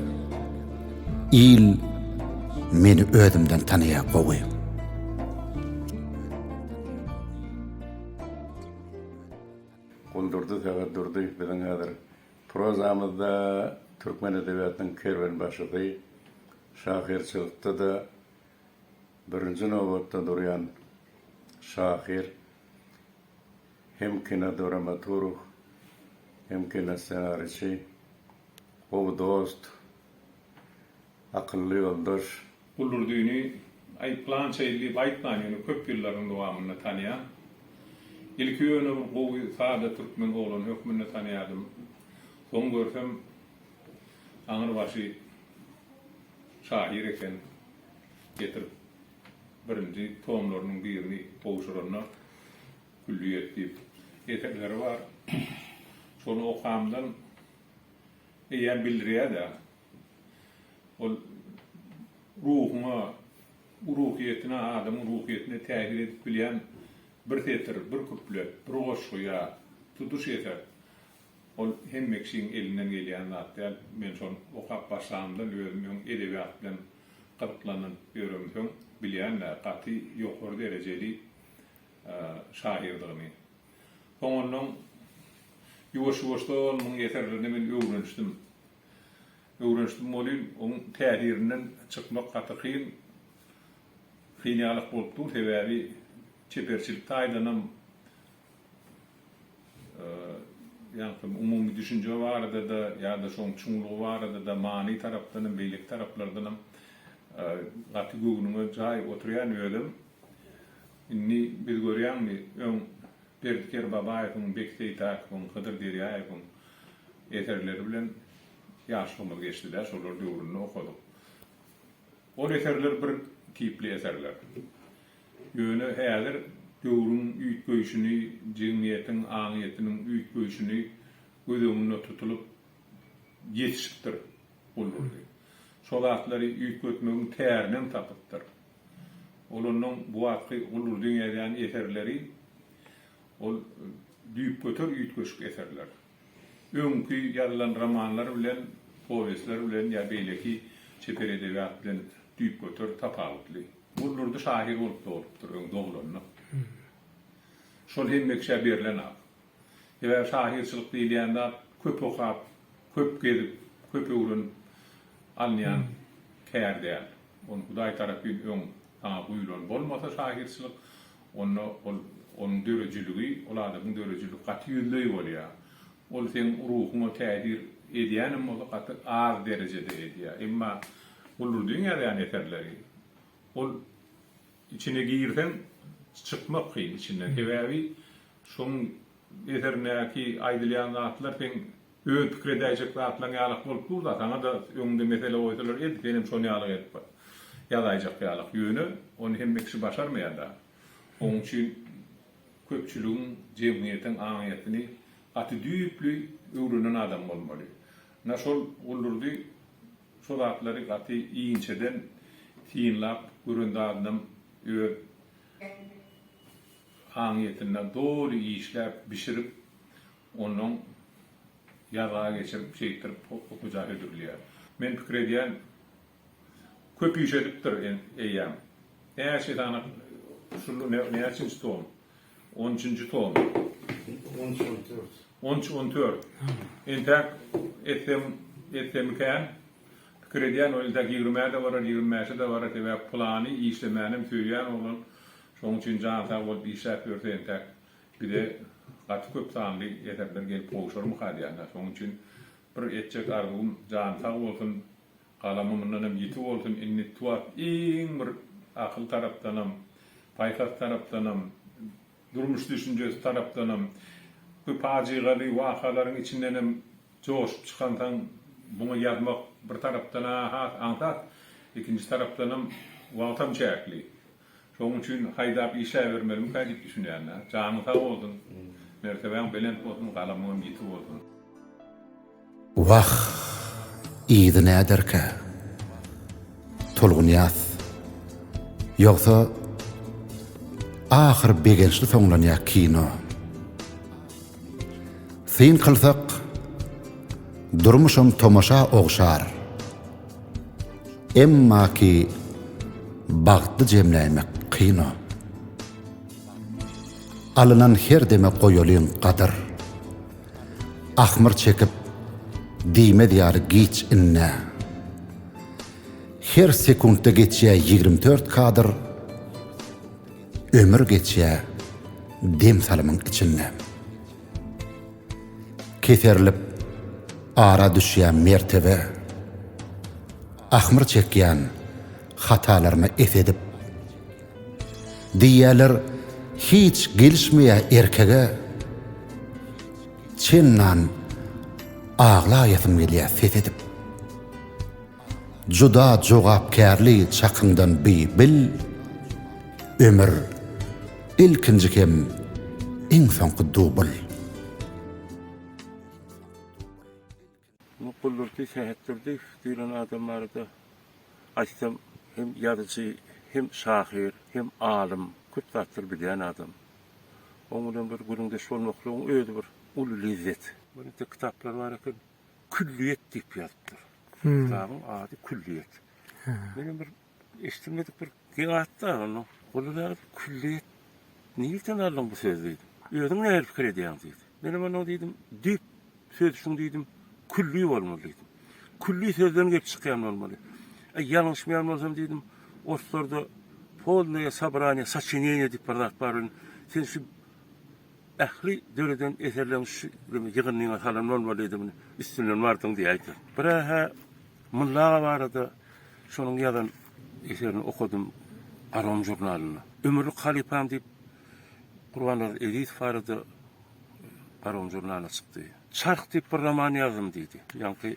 Il meni özümden tanaýar gowy. Guldurdy Sagatdurdy biziň häzir prozamyzda türkmen edebiýatynyň kerwenbaşysy, şahyrçylykda-da, Birinji nobatda durýan şahyr hem kinodramaturg, hem kinossenariçi, gowy dost, akylly ýoldaş. Gulurdyny aýyplança il diýip aýtman, ýöne köp ýyllaryň dowamynda tanýan. Ilki ýöne bir gowy, sada türkmen oglany hökmünde tanýadym. Soň görsem, aňyrbaşy şahyr eken. getirip birinji tomlarynyň birini gowşuranda Külliýet diýip eserleri bar. Şony okamdan eýýäm bildirýär-de, ol ruhuňa, ruhyýetine, adamyň ruhyýetine täsir edip bilýän bir setir, bir kuplet, bir goşgy ýa tutuş eser Ol hemme kişiň elinden gelýän zat däl. Men şony okap başlamdan özüm öň edebiýat bilen gyzyklanyp ýöremsoň bilýän-dä, gaty ýokary derejeli şahyrdygyny. Soňundan ýuwaş-ýuwaşdan onuň eserlerini men öwrenişdim. Öwrenişdim welin, onuň täsirinden çykmak gaty kyn. Kyn ýaly-ak bolup dur, sebäbi çeperçilik taýdanam, Ýaňky umumy düşünje barada-da ýa-da şoň çuňlugy barada-da many tarapdanam, beýleki taraplardanam gaty göwnüňe jaý oturýan özem. Indi biz görýäňmi, öň Berdi Kerbabaýewiň, Beki Seýtäkowyň, Hydyr Derýaýewiň eserleri bilen ýaşlygymyz geçdi-dä, şolar döwründe okadyk. Ol eserler bir tipli eserler. Ýöne häzir döwrüň üýtgeýşini, jemgyýetiň aňyýetiniň üýtgeýşini göz öňünde tutulyp ýetişipdir Guldurdy. Şo zatlary üýtgetmegiň tärinem tapypdyr. Olandan bu wagtky Guldurdyň ýazýan eserleri ol düýpgöter üýtgeşik eserler. Öňki ýazylan romanlar bilen, powestler bilen ýa beýleki çeper edebiýat bilen düýpgöter tapawutly. Ol Durdy şahyr bolup doglup-dyr, öň doglanok. Şol hemme kişä berlenok. Sebäbi şahyrçylyk diýilýän zat köp okap, köp gezip, köp öwrenip alynýan kär däl. Ony Hudaý tarapyn öň saňa guýulan bolmasa şahyrçylyk, Onda ol, onuň döredijiligi, ol adamyň döredijiligi gaty ýüzleý bolýar. Ol seň ruhuňa täsir edýänem bolsa gaty az derejede edýär. Emma Gulurdyň ýazýan eserleri, ol içine girseň çykmak kyn içinden. Sebäbi şoň eserindäki aýdylýan zatlar seň Öz pikir edäýjek zatlaň ýalak bolup durda saňada öňüňde mesele goýsalar ed senem şon ýalak edip bir ýazaýjak ýalak ýöne ony hemme kişi başarmaýar da oň üçin köpçüligiň jemgyýetiň aňyýetini gaty düýpli öwrenen adam bolmaly na şol Guldurdy şo zatlary gaty inçeden synlap gören zadynam öz aňyýetinde doly işläp bişirip Onnoň ýazga geçirip, şeýtdirip hoja hödürleýär. Men pikir edýän, köp iş edipdir eýýäm. Näçe sany şul näçinji tom? On üçünji tom. On üç, on dört. On üç, on dört. Entäk etsem, etsemikän? Pikir edýän, ol entäk ýigrimä-de barar, ýigrimi bäşe-de barar, sebäp pylany işlemänem söýýän oglan. Şonuň üçin jan sag bolup işläp ýörse entäk Bize gaty köp sanly eserler gelip gowşarmyka diýýän-ä. Şonuň üçin bir etjek arzuwym, jany sag bolsun, galamy mundanam ýiti bolsun, indi tuwap iň bir akyl tarapdanam, paýhas tarapdanam, durmuş düşünjesi tarapdanam bu pajygaly wakalaryň içindenem joşup çykansoň, muňa ýazmak bir tarapdan-a has aňsat, ikinji tarapdanam wagtam çäkli. Şonuň üçin haýdap işläbermegimikä diýip düşünýänler. Janyň sag bolsun. Mertebäň belent bolsun, galamyňam ýiti bolsun. Wah! Yzy näderkä? Tolgunýaz, Ýogsa, ahyry begençli soňlanýa kino. Syn kylsak, durmuşam tomaşa ogşar. Emma ki bagty jemläýmek kyn-a. Alynan her deme goýalyň gadyr. Ahmyr çekip, diýmez ýaly giç indi-ä. Her sekuntda geçýä ýigrim dört kadr, Ömür geçýä dem salymyň içinde. Keserilip ara düşýän mertebe, Ahmyr çekýän hatalaryma es edip. Diýýäler hiç gelişmeýä erkege, Çennan aglaýasym gelýä ses edip. Juda jogapkärli çakyňdan bi bil Ömür ilkinji hem iň soňky dubl. Guldurdy Sähetdurdyýew diýlen adam barada aýtsam hem ýazyjy hem şahyr hem alym köp zatlary bilýän adam. Oň bilen bir gürrüňdeş bolmaklygyň özi bir uly lezzet. Onuň ýiti kitaplary bar eken. Külliýet diýip ýazypdyr. Kitabyň ady Külliýet. Menem bir eşidilmedik bir zat-da onda. Onda näme külliýet nirden aldyň bu sözi diýdim. Özüň nähili pikir edýäň diýdi. Menem onuň diýdim, düýp sözi şuň diýdim, külli bolmaly diýdim. Külli sözden gelip çykýan bolmaly. Äý, ýalňyşmaýan bolsam diýdim, oruslarda polnoýe sobraniýe, saçineniýe diýip bir zat bar welin, sen şu Ähli döreden eserleň şu ýygyndyňa salan bolmalydyň, üstünden bardyň diýäýseň. Birä-hä Mulla aga barada şonuň ýazan eserini okadym Arom žurnalynda. Ömürlik halypam diýip Gurbannazarow Ezizow barada Arom žurnalynda çykdy. Çarh diýip bir roman ýazdym diýdi. Ýaňky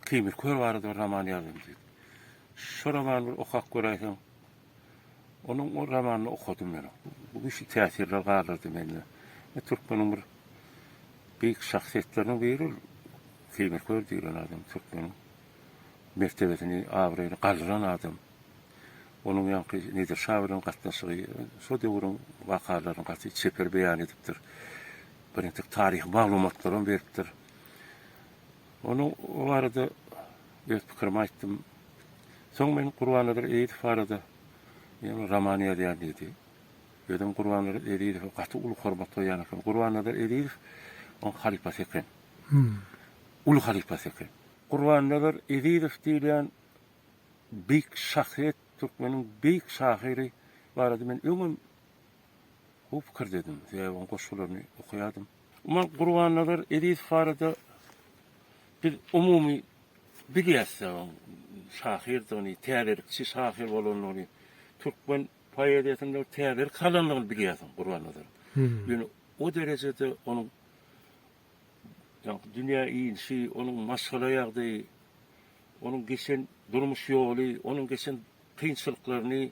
Keýmir kör barada bir roman ýazdym diýdi. Şo romany bir okap göräýseň. Onuň o romanyny okadym men. Bu güýçli täsirler galdyrdy mende. Men türkmeniň bir beýik şahsyýetleriniň biri ol Keýmir Kör diýlen adam türkmeniň mertebesini, abraýyny galdyran adam. Onuň ýaňky Nedir şa bilen gatnaşygy şo döwrüň wakalaryny gaty çeper beýan edipdir. Bir entek taryhy maglumatlaram beripdir. Onuň o barada Öz pikirimi aýtdym. Soň men Gurbannadir Ezizow barada ýene roman ýazýan diýdi. Özem Gurbannadir Ezizowa gaty uly hormat goýýan eken. Gurbannadir Ezizow oň halypasy eken. Uly halypasy eken. Gurbannadir Ezizow diýilýän beýik şahsyýet, türkmeniň beýik şahyry barada men öňem. Gowy pikir dedim. Sebäbi oň goşgularyny okaýardym. Umuman Gurbannazar Ezizow barada biz umumy bilýäs-de oň şahyrdygyny, täzelikçi şahyr bolandygyny, türkmen poeziýasynda täzelik salandygyny bilýäs oň Gurbannazaryň. Ýöne o derejede onuň ýaňky dünýä inişi, onuň maşgala ýagdaýy, onuň geçen durmuş ýoly, onuň geçen kynçylyklaryny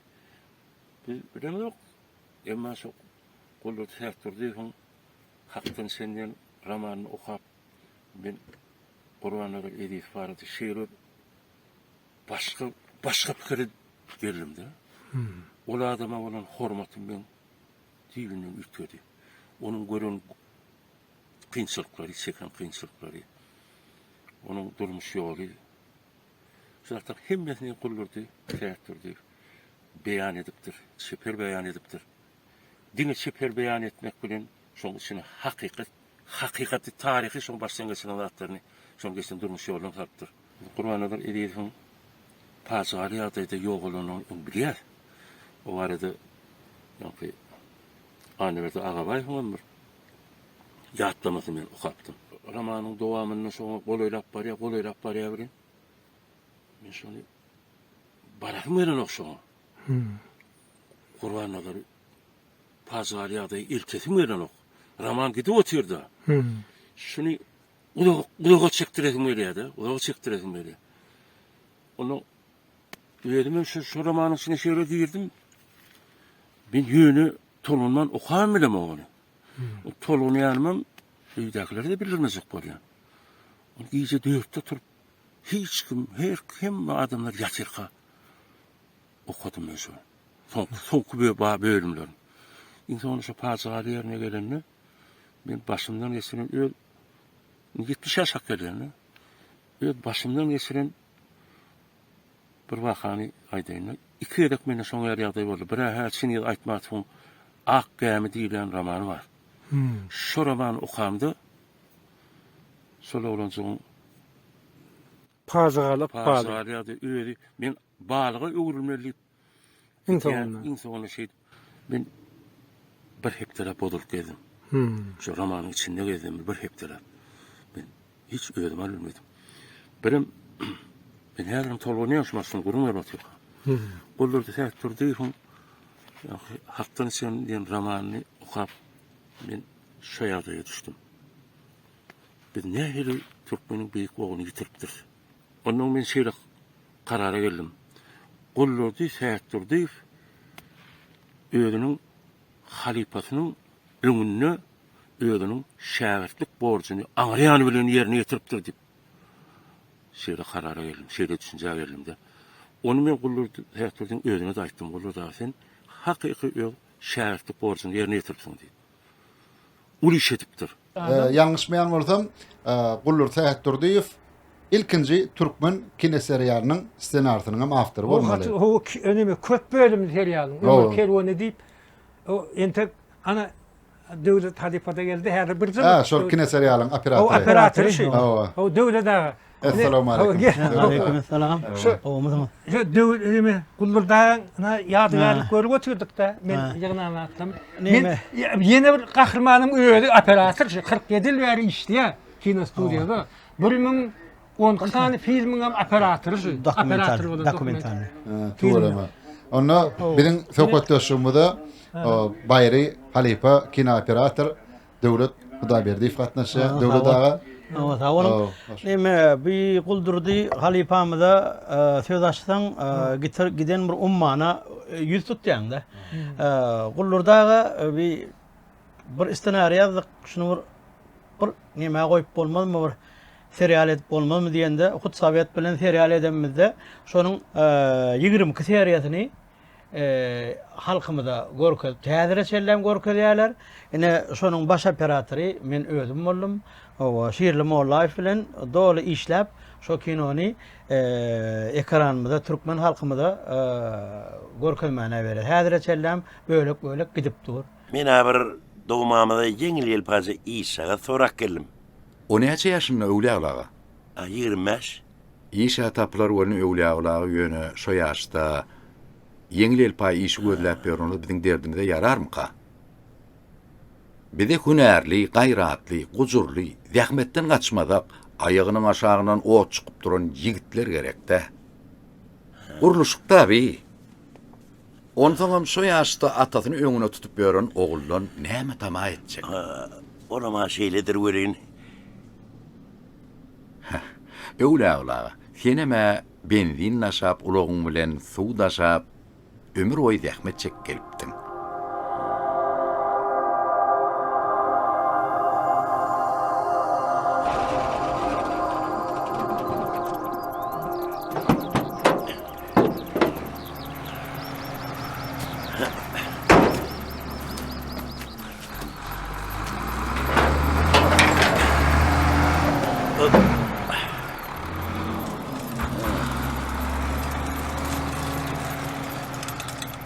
Biz bilemzok, emma şo Guldurdy Sähedurdyýewiň Hakdan sen diýen romanyny okap, men Gurbannazar Ezizow barada şeýle bir başga, başga pikire geldim-de. Ol adama bolan hormatym meň düýbünden üýtgedi. Onuň gören kynçylyklary, çeken kynçylyklary, onuň durmuş ýoly, Şu zatlaryň hemmesini guldurdy, käkdirdi. Beýan edipdir. Çeper beýan edipdir. Diňe çeper beýan etmek bilen şoň içine hakykat, hakykaty taryhy şoň başdan geçiren zatlaryny şoň geçen durmuş ýoluna salypdyr. Gurbannazar Ezizowyň pajygaly ýagdaýda ýogalanyny öň bilýär. O barada ýoňky Annaberdi Agabaýewiň hem bir ýatlamasyny men okapdym. Romanyň dowamynda şoňa golaýlap barýar, golaýlap barýar welin, men şony barasym gelenok şoňa. Gurbannazar pajygaly ýagdaýy eltesim gelenok. Roman gidip otyr-da. Şuny uzaga, uzaga çekdiresim gelýär-de, uzaga çekdiresim gelýär. Onda özüm hem şu, şu romanyň içine şeýle girdim. Men ýöne tolanman okaýan bilemok ony. Tolgunýanymam öýdäkilere-de bildirmejek bolýan. Gije dörtde turup, hiç kim, her hemme adamlar ýatyrka okadym men şony. Soň, soňky bö- ba- bölümlerini. Iň soňunda şu pajygaly ýerine gelende, men başymdan geçiren öz ýetmiş ýaşak gelýän-de, öz başymdan geçiren Bir wakany aýdaýyn-da. Iki gezek mende şoň ýaly ýagdaý boldy. Bir-ä hä Çingiz Aýtmatowyň Ak gämi diýilýän romany bar. Şo romany okamda şol oglanjygyň Pajygaly ykbaly. Pajygaly ýagdaý özi men balyga öwrülmeli diýip Iň soňunda. Iň soňunda şeýdip men bir hepdelap bozulyp gezdim. Şu romanyň içinde gezdim bir hepdelap. Men hiç özüm al bilmedim. Birem men häzirem tolgunýan şu maşyny gürrüň berip otyr. Gollarda sähip durdy. Hakdan içen diýen romanyny okap men şu ýagdaýa düşdüm. Biz nähili türkmeniň beýik ogluny ýitiripdiris. Ondan men şeýle karara geldim. Gullurdy Sätdurdyýew özüniň halypasynyň öňünde özüniň şägirtlik borjuny aňryýany bilen ýerine ýetiripdir diýip, şeýle karara geldim, şeýle düşünjä geldim-de. Ony men Gullurdy Sätdurdyň özüne-de aýtdym, Gullurdy aga, sen hakyky öz şägirtlik borjuňy ýerine ýetiripsiň diýip. uly iş edipdir. Ýalňyşmaýan bolsam, Guldur Sähetdurdyýew ilkinji türkmen kinoserialynyň ssenarisynyňam awtory bolmaly. Ol haty o neme köp bölümli serialyň Ömür kerweni diýip, o entek ana Döwlet halypa-da geldi, häzir birje. Hä, şol kinoserialyň operatory. Operatory şu. Hawa. Döwlet aga. Essalamu aleýkum. Aleýkum essalam. Gowmysyňyz? Şu döwrümi Guldurdaň ýadygärlik görüp oturduk-da, men ýygnama atdym. Men ýene bir gahrymanyň özi operator, şu 47 ýyl bäri işleýär kinostudiýada. 1012 sany filmiň hem operatory şu. Operator bolan dokumental. Tuweleme. Onda biziň söhbetdeşligimize Baýry halypa kinooperator Döwlet Hudaýberdiýew gatnaşýar. Döwlet aga. Sawa sag boluň. Eme bi Guldurdy halypamyza söz açsaň giden bir ummana ýüz tutýaňda. Guldurdy aga bi bir ssenariý ýazdyk şuny bir bir nämä goýup bolmazmy bir serial edip bolmazmy diýende hut sowet bilen serial edenimizde şonuň ýigrimi iki seriýasyny halkymyza görkezip täzire çellem görkezýärler. Ine şonuň baş operatory men özüm boldum. Owa Şirli Mollaýew bilen doly işläp şo kinony ekranymyza türkmen halkymyza görkezmäne bereris. Häzire çellem bölek bölek gidip dur. Men a bir dogmamyza ýeňil ýelpaze işjagaz sorap geldim. O näçe ýaşynda Öwlüaly aga? Ýigrimi bäş. Işä tapylar welin öwlýagulagy ýöne şo ýaşda ýeňil elpaý işi gözläp ýörnüňiz biziň derdimize ýararmyka? Bizi hünärli, gaýratly, gujurly, zähmetden gaçmazak, aýagynyň aşagyndan ot çykyp duran ýigitler gerekdä. Gurluşykda bi. Onsoňam şo ýaşda atasyny öňüne tutup ýören oguldan näme tama etjek? Olam-a şeýledir welin, Heh. Öwlagül aga, senem-ä benzin daşap, ulagyň bilen suw daşap, ömür boýy zähmet çekip gelipdiň.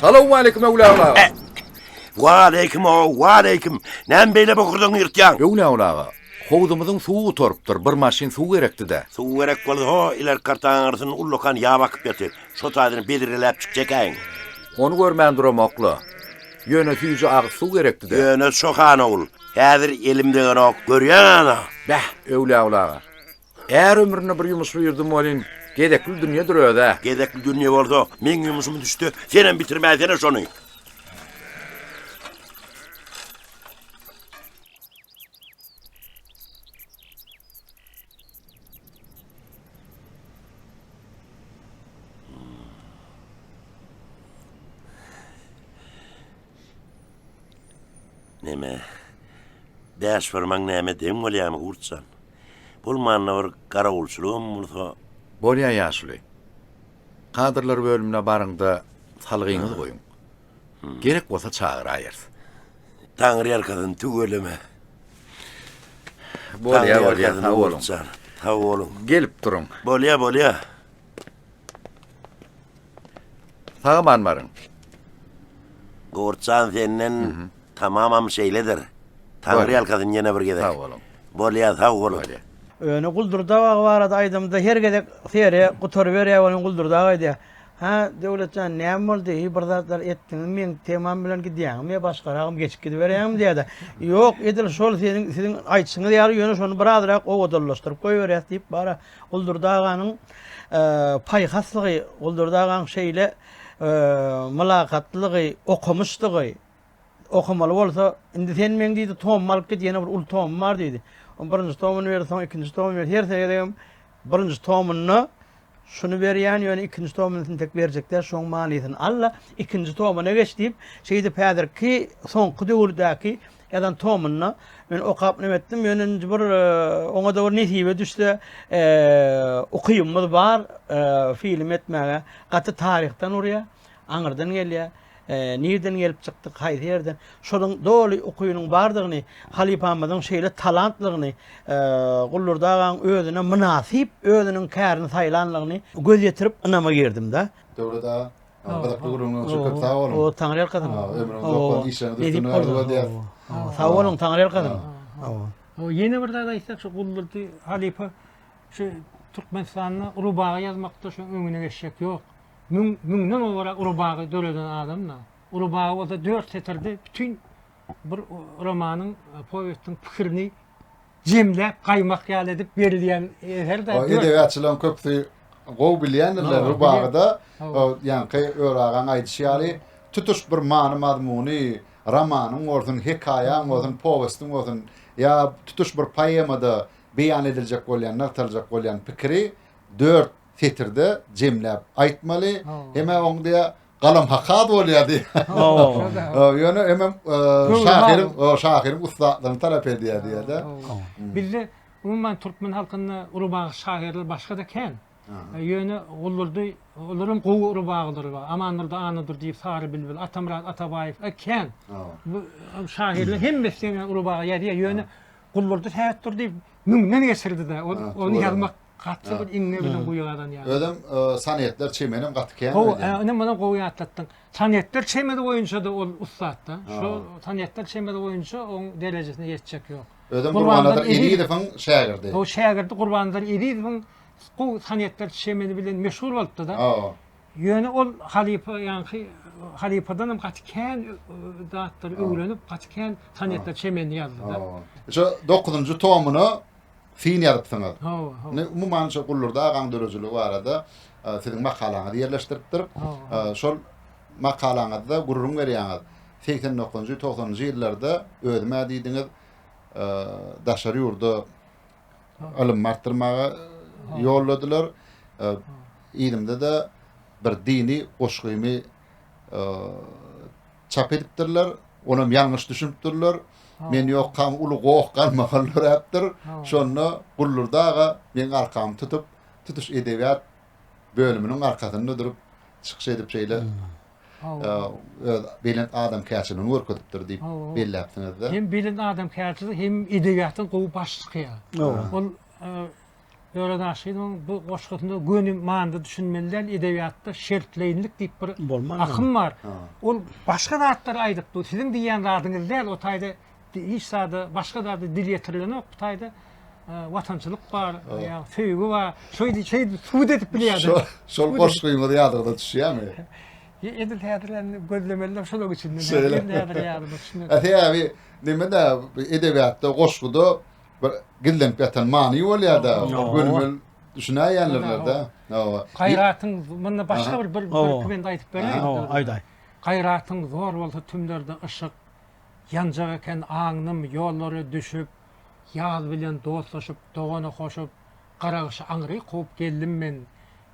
Salam aleyküm Öwlä aga. Eh. Wa aleyküm o, wa aleyküm. Näme beýle bokurdan ýyrtýaň? Öwlä aga. Howzumyzyň suwy gutarypdyr. Bir maşyn suw gerekdi-de. Suw gerek bolsa, ho, iler kartaň aňyrsyn ullakan ýap akyp ýatyr. Şo taýdan bedreläp çykjakäýiň. Ony görmän duramok-la. Ýöne süýji agyz suw gerekdi-dä. Ýöne çokan ogul, häzir elim degenok, görýäň-ä-da! Bäh, Öwlüogul aga. Är ömründe bir ýumuş buýurdym welin, gezekli dünýedir öz-ä. Gezekli dünýe bolsa, meň ýumuşymy düşde senem bitirmäýsene şony! Näme? Bäş fırmaň näme deň bolýamy gurtjan? Bul manna bir garawulçylygam bolsa. Bolýa ýaşuly. Kadrlar bölümine baryňda salgyňyz goýuň. Gerek bolsa çagyraýarys. Taňryýalkasyn, tüweleme. Bolýa, bolýa, sag boluň. Sag boluň. Gelip duruň. Bolýa, bolýa. Sag aman baryň. Gowurtjan senden tamamam şeýledir. Taňryýalkasyn ýene bir gezek. Sag boluň. Bolýa, sag boluň. Öne Guldurdagy barada aýdamda her gezek seri gutaryberýär welin Guldurdag aýdýar. Hä, Döwlet jan, näme boldy? Heý, bir zatlar etdiňmi? Meň temam bilen gidýäňmi ýa başgaragam geçip gidiberýäňmi? diýýär-de, Ýok, edil şol seniň, siziň aýdyşyňyz ýaly, ýöne şony birazrak owadanlaşdyryp goýberýäs diýip, bara Guldurdy aganyň paýhaslygy, Guldurdy agaň şeýle mylakatlylygy, okumyşlygy, Okamaly bolsa, indi sen meň diýdi, tomumy alyp git, ýene bir uly tomum bar diýdi. O birinji tomuny berdi, soň ikinji tomuny berdi. Her gezegem birinji tomunda şuny berýän, ýöne ikinji tomuny intek berjekler, şoň manysyny al-da, ikinji tomuna geç diýip, şeýdip häzirki soňky döwürdäki ýazan tomunda men okap näme etdim, ýöne indi bir e, oňa-da bir nesibe düşse, e, ukymyz bar e, film etmäge. Gaty taryhdan urýar. aňyrdan gelýär, nirden gelip çykdyk, haýsy ýerden, şonuň doly ukynyň bardygyny, halypamyzyň şeýle talantlygyny, Gullurdy agaň özüne mynasyp, özüniň kärini saýlanlygyny göz ýetirip ynama girdim-de. Döwlet aga, gyzykly gürrüňiň üçin köp sag boluň. Hawa, Taňryýalkasyn. Ömrüňiz uzak bolsun, işleriňiz üstünlik arzuw edýäris. Hawa, sag boluň, Taňryýalkasyn. Hawa. Hawa, ýene bir zat aýtsak, şu Gullurdy halypa şu Türkmenistanda Rubagy ýazmakda şu öňüne geçjek ýok. Müň, müňden gowrak uly bagy döreden adam-da. Uly bagy bolsa dört setirde bütin bir romanyň, powestiň pikirini jemläp, gaýmak ýaly edip berilýän eser-de. O edebiýatçylaryň köpüsi gowy bilýändirler bu bagy-da. Ýaňky Ör agaň aýdyşy ýaly, tutuş bir many-mazmuny, romanyň bolsun, hekaýaň bolsun, powestiň bolsun, ýa tutuş bir poemada beýan ediljek bolýan, nygtalyjak bolýan pikiri dört setirde jemläp aýtmaly. Hemä oň diýä galam hakaz bolýar diýä. Ýöne hemem şahyryň, o şahyryň ussatlygyny talap edýär diýä-de. Bizde umuman türkmen halkynda urubagy şahyrlar başga-da kän. Ýöne Guldurdy, olar hem gowy urubagydyr. Amandurdy Annadur diýip Sary bilbil, Atamyrat Atabaýew kän. Bu şahyrlar hemmesi deňe urubagy ýazýar. Ýöne Guldurdy Sähetdur diýip müňden geçirdi-de, ony ýazmak Gaty bir iňňe bilen guýy gazan ýaly. Özem Sonetler çemenem gaty kän Gowy, he, ine munam gowy ýatlatdyň. Sonetler çemesi boýunça-da ol ussat-da. Şo Sonetler çemesi boýunça oň derejesine ýetjek ýok. Özem Gurbannazar Ezizowyň şägirdi. Gowy şägirdi Gurbannazar Ezizowyň gowy Sonetler çemesi bilen meşhur bolupdy-da. Hawa. Ýöne ol halypa ýaňky halypadan hem gaty kän zatlary öwrenip, gaty kän sonetler, çemenini ýazdy-da. Şu dokuzynjy tomuna syn ýazypsyňyz. Hawa, hawa. Indi umuman şu Gullurdy agaň döredijiligi barada siziň makalaňyzy ýerleşdiripdir. Şol makalaňyzda gürrüň berýäňiz. Segsen dokuzynjy, togsanynjy ýyllarda özüm-ä diýdiňiz, daşary ýurda ylym artdyrmaga ýolladylar. Ilimde-de bir dini goşgymy çap edipdirler. Onam ýalňyş düşünipdirler. Men ýokam, uly goh galmagal döräpdir. Şonda Gullurdy aga meniň arkamy tutup, tutuş edebiýat bölüminiň arkasynda durup, çykyş edip şeýle öz belent adamkärçiligini görkezipdir diýip belläpsiňiz-de. Hem belent adamkärçilik, hem edebiýatdan gowy baş çykýar. Ol Döwlet Aşyrowyň bu goşgusynda göni manyda düşünmeli däl, edebiýatda şertleýinlik diýip bir akym bar. Ol başga zatlary aýdypdy, siziň diýýän zadyňyz däl, o taýda Hiç zada, başga zada dil ýetirilenok bu taýda. Watançylyk bar, ýa söýgi bar. Şeý diýip, şeý subut edip bilýärdi. Şol goşgymyz ýadyňyza düşýärmi? Edil häzir hem gözlemeliler şolaryň içinde. Şeýle. Häzir neme-de edebiýatda, goşguda bir gizlenip ýatan many bolýar-da, gönümel düşünäýenlerine-de. Hawa. Gaýratyň munda başga bir bir bir bende aýdyp bereýin. Hawa, aýdaý. Gaýratyň zor bolsa tümlerde yşyk, Ýanjak eken aňnym ýollara düşüp, Ýaz bilen dostlaşyp, dogana hoşup, Gara gyşy aňry kowup geldim men.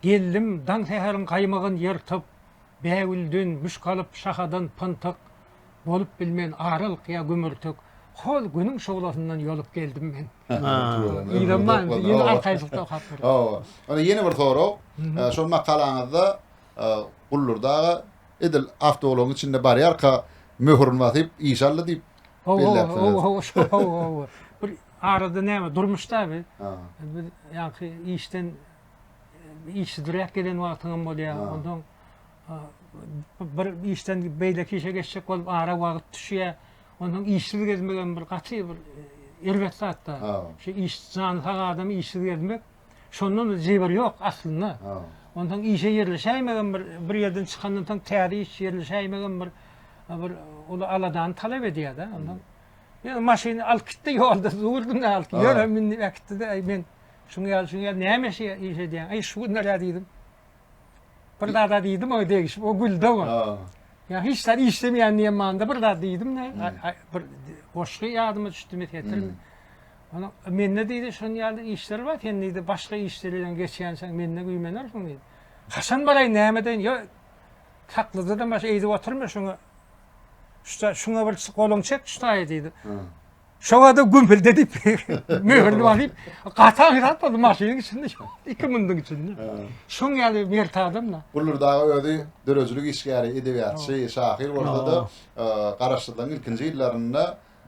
Geldim, daň säheriň gaýmagyn ýyrtyp, Bägülden müşk alyp, şahadan pyntyk, Bolup bilmen aralyk ýa gümürtik, Hol günüň şuglasyndan ýolup geldim men. Ýene bir sorag. Şol makalaňyzda Guldur daga edil awtoulagyň içinde barýarka möhürüni basyp işe aldy diýip belläpsiňiz. Bir arada näme durmuşda bi biz ýaňky işden işsizräk gelen wagtyňam bolýar. Onsoň bir işden beýleki işe geçjek bolup ara wagt düşýär. Onsoň işsiz gezmegem bir gaty bir erbet zatda. Şu iş jany sag adam işsiz gezmek. Şondan zeber ýok aslynda. Ondan işe ýerleşäýmegem bir bir ýerden çykandan soň täze iş ýerleşäýmegem bir bir uly aladany talap edýär-de. Ondan ýöne maşyny alyp gitdi ýolda durdum da alyp ýörem indi äkitdi-de men şuňa ýaly şuňa ýaly näme iş edýäň? Aý şu günler ýa diýdim. Bir zada diýdim, o degişip, o güldi o. Ya hiç zat işlemeýän diýen manyda bir zat diýdim ne, bir goşgy ýadyma düşdi mi setirmi. Ana mende diýdi, şonuň ýaly işler bar, sen diýdi, başga işleri bilen geçýänçäň mende güýmenersiň diýdi. Haçan baraýyn, näme deýin, ýa saklyjadan başga eýdip oturma şuňa. Şuňa bir goluňy çek, şutaýy diýdi. Şoňada gümpülde diýip, möhürli bar diýip, gatan hirap boldy maşynyň içinde, iki mündiň içinde. Şoň ýaly mert adam-da. Guldur dagy özi döredijilik işgäri, edebiýatçy, şahyr bolsa-da, garaşsyzlygyň ilkinji ýyllarynda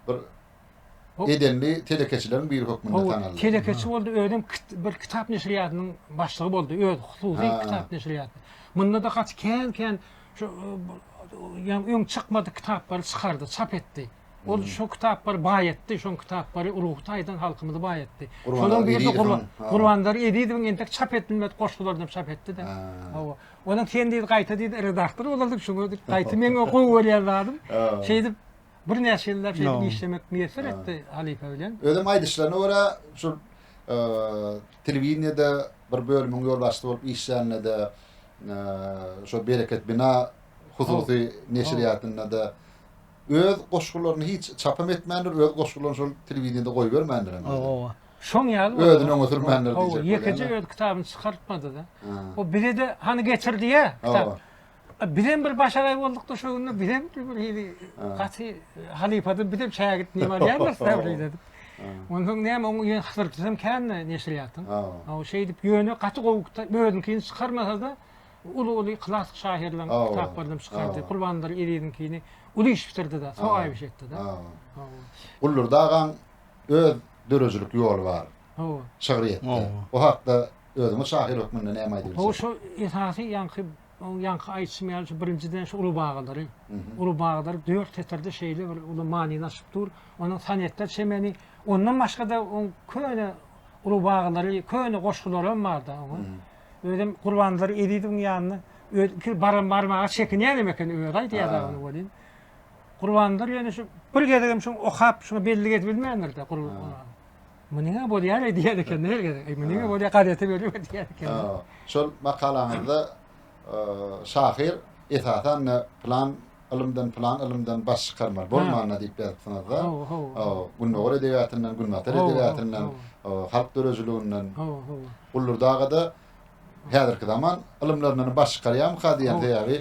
bir edenli telekeçileriň biri hökmünde tanaldy. Telekeçi boldy, özem bir kitap neşirýatynyň başlygy boldy, öz hususy kitap neşirýaty. Munda-da gaty kän-kän şu ýa öň çykmadyk kitaplary çykardy, çap etdi. Ol şo kitaplary baý etdi, şoň kitaplary ruhy taýdan halkymyzy baý etdi. Şonuň biri Gurban, Gurbandar Ezizowyň entek çap edilmedi goşgularyny çap etdi-de. Hawa. Onuň sen diýdi gaýta diýdi redaktor bolardyk şoňa diýip gaýta meň gowy görýän zadym. Şeýdip bir näçe ýyllap şeýdip işlemek miýesser etdi halypa bilen. Özüm aýdyşlaryna görä şol telewideniýede bir bölümiň ýolbaşçysy bolup işlände-de şo Bereket bina hususy neşirýatynda-da Öz goşgularyny hiç çapam etmändir, öz goşgularyny şol telewideniýede goýbermändir hem özüni. Hawa. Şoň ýaly boldy. Özüni öňe sürmändir diýjek bolýan-da. Hawa, ýekeje öz kitabyny çykartmady-da. O bize-de hany getir diýýä kitaby. Bizem bir başagaý bolduk-da şo günler, bizem bir hili gaty halypady, bizem şägirt neme alýarys däl-de diýip. Onsoň näme, oň ýene hysyrtysam kän-de neşirýatdan. Hawa. Şeýdip ýöne gaty gowy özüňkini çykarmasa-da, Bu uly-uly klassyk şahyrlaryň Hawa, kitaplaryny çykardy. hawa. Gurbandyr Eziziňkini uly iş bitirdi-de, Hawa. sogaýyp iş etdi-de. Hawa. Hawa. Gullurdy agaň öz döredijilik ýoly bar Hawa. şygryýetde. Hawa. O hakda özüňiz şahyr hökmünde näme aýdyp Hawa, biljek? şu esasy ýaňky o ýaňky aýdyşym ýaly şu birinjiden şu uly bagalary, Mhm. uly bagalary dört setirde şeýle bir uly manyny açyp dur. Onuň sonetler çemeni, ondan başga-da oň köne uly bagalary, köne goşgulary hem bar-da oňa. Mhm. Özem Gurbannazar Ezizowyň ýanyna öz ikisi baram barmaga çekinýärem ekeni özi aýdýar ony welin. Gurbannazar ýöne şu bir gezegem şu okap şuňa belli gezip bilmändir-de Gurban. Munyňa bolýar diýýär ekeni her gezek. Eý munyňa bolýar gazete berip diýýär ekeni. Şol makalaňyzda şahyr esasan da plan ylymdan plan ylymdan baş çykarmaly bolmanda diýip ýazypsyňyz-da. Gündogar edebiýatyndan, günbatar edebiýatyndan, halk döredijiliginden. Gullurdy agada häzirki zaman ylymlaryndan baş çykarýarmyka diýýän sebäbi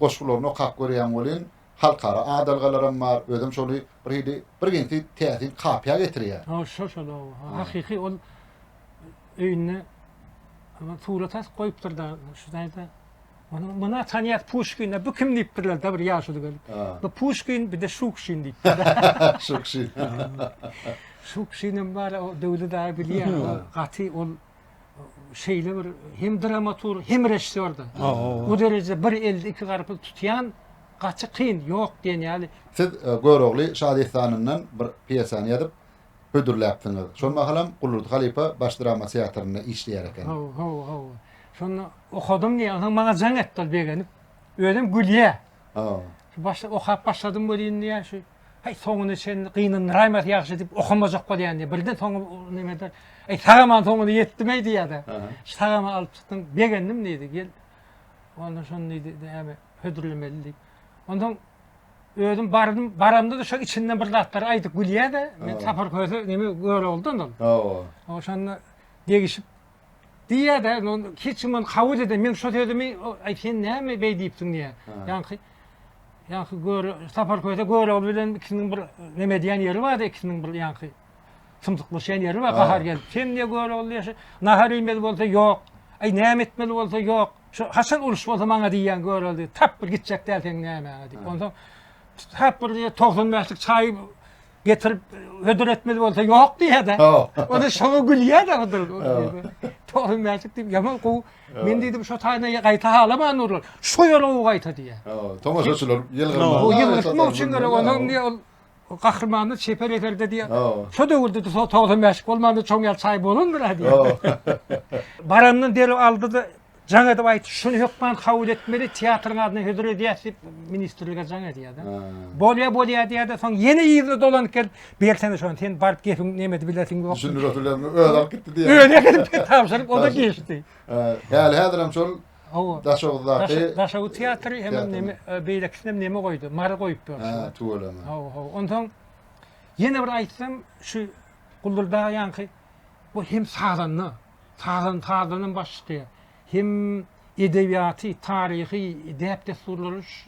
goşgularyny okap görýän welin halkara adalgalaram bar özem şony bir hili bir ginsi täsin kapýa getirýär. Hawa şol şol hawa hakyky ol öýünde surat asyp goýupdyr da şu taýda Onuň muna tanýas Puşkine bu kim diýipdirler da bir ýaşuly gelip. Bu Puşkin bir de Şukşin diýipdirler. Şukşin. Şukşin hem bar, o Döwli daýy bilýär, o gaty ol şeýle bir hem dramaturg, hem režissýordy. Bu derejede bir elde iki garpyz tutýan gaty kyn, ýok diýen ýaly. Siz e, Görogly şadessanyndan bir pýesany ýazyp, hödürläpsiňiz. Şol mahalam Guldurdy halypa Baş drama teatrynda işleýär eken. Hawa, hawa, hawa. Şonda okadym diýýär. Onsoň maňa jaň etdi ol begenip. Özem gülýär. Hawa. Şu başda okap başladym welin diýýär, şu Heý, soňuna çenli gynandyraýmasy ýagşy diýip okamajak bolýan diýýär. Birden soňy nimede, Heý, sagaman soňuna ýetdim-eý diýýär-de. Sagama alyp çykdym, begendim diýdi. Gel, onda şony diýdi, näme, hödürlemeli diýip. Onsoň Özüm bardym, baramda-da şo içinden bir zatlar aýdyp gülýär-de, men Sapar köse neme gör oldu ondan. Hawa. Oşanda degişip diýýär-de, hiç kim ony kabul eden, men şo sözümi, aý sen näme beý diýipsiň diýýär. Ýaňky Ýaňky gör, Sapar köse gör ol bilen ikisiniň bir neme diýen ýeri bar-da, ikisiniň bir ýaňky symsyklaşýan ýeri bar, gahar gelip. Sen ne gör ol diýýär, nahar iýmeli bolsa ýok. Aý näme etmeli bolsa ýok. Şu haçan uruş bolsa maňa diýýän görelde tap bir gitjek däl sen nämäňe diýip. Ondan tap bir diýe 95-lik çaý getirip hödür etmeli bolsa ýok diýýär-de. Onda şoňa gülýär-de Hydyr. 95-lik diýip ýaman gowy. Men diýdim şu taýda gaýta halaman urlar. Şu ýere gowy gaýta diýýär. Tomaşaçylar ýylgyrma. Bu ýylgyrma üçin gerek. Ondan diýe ol Gahrymanda çeper eserde diýýär. Şo döwürde-de so togsan bäşlik bolmanda çoň ýaly çaý bolandyr-a diýýär. Barandan derrew aldy-da jaň edip aýtdy, şuny hökman kabul etmeli, teatryň adyna hödür edýäs diýip, ministrlige jaň edýär-de. Bolýa, bolýa diýýär-de, soň ýene yzyna dolanyp gelip, bersene şony, sen baryp gepiň nemedi bilersiň ýok. Düşündirip bilermi, özi alyp gitdi diýýär. Özi alyp gitdi, tabşyryp, o-da giçdi. Häli-häzirem şol Hawa. Daşoguzdaky. Daşoguz teatry hemem neme, beýlekisinem neme goýdy, Mary goýup ýörşüler. Hä, tüweleme. Hawa, hawa. Onsoň ýene bir aýtsam, şu Guldurdag ýanky bu hem sazanda, sazan sazandan baş çykýar. Hem edebiýaty, taryhy, däp-dessurlary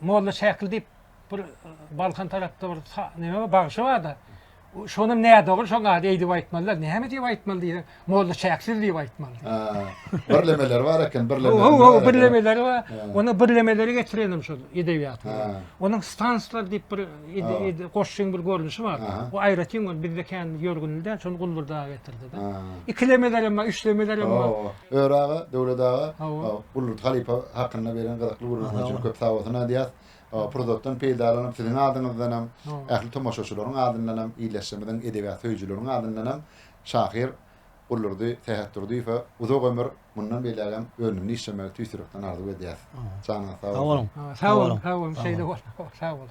Molla Şäkil diýip bir Balkan tarapda bir neme bar, bagşy bar-da. Şonam nädogry şoň ady eýdip aýtmalylar. Näme diýip aýtmaly diýseň, Molla Şäksiz diýip aýtmaly. Ha, birlemeleri bar eken, birlemeleri. Ho, ho, birlemeleri bar. Onda birlemeleri getirenem şol edebiýat. Onuň stanslar diýip bir goşgyň bir görnüşi bar. Bu aýratyn ol bizde kän ýörgünli däl, şony Guldurda getirdi-de. Ikilemeler hem bar, üçlemeler hem bar. Öri aga, Döwlet aga, Gullut halypa hakynda beren gyzykly gürrüňiňiz üçin köp sag bolsun aýdýas. Pursatdan peýdalanyp siziň adyňyzdanam, ähli tomaşaçylaryň adyndanam, ildeşlerimiziň, edebiýat söýüjileriň adyndanam şahyr Gullurdy Sähetdurdyýewe uzak ömür, mundan beýlägem önümli işlemegi tüýs ýürekden arzuw edýäs. Janyňyz sag bolsun. Sag boluň. Sag boluň. Şeýle bolsun. Sag boluň.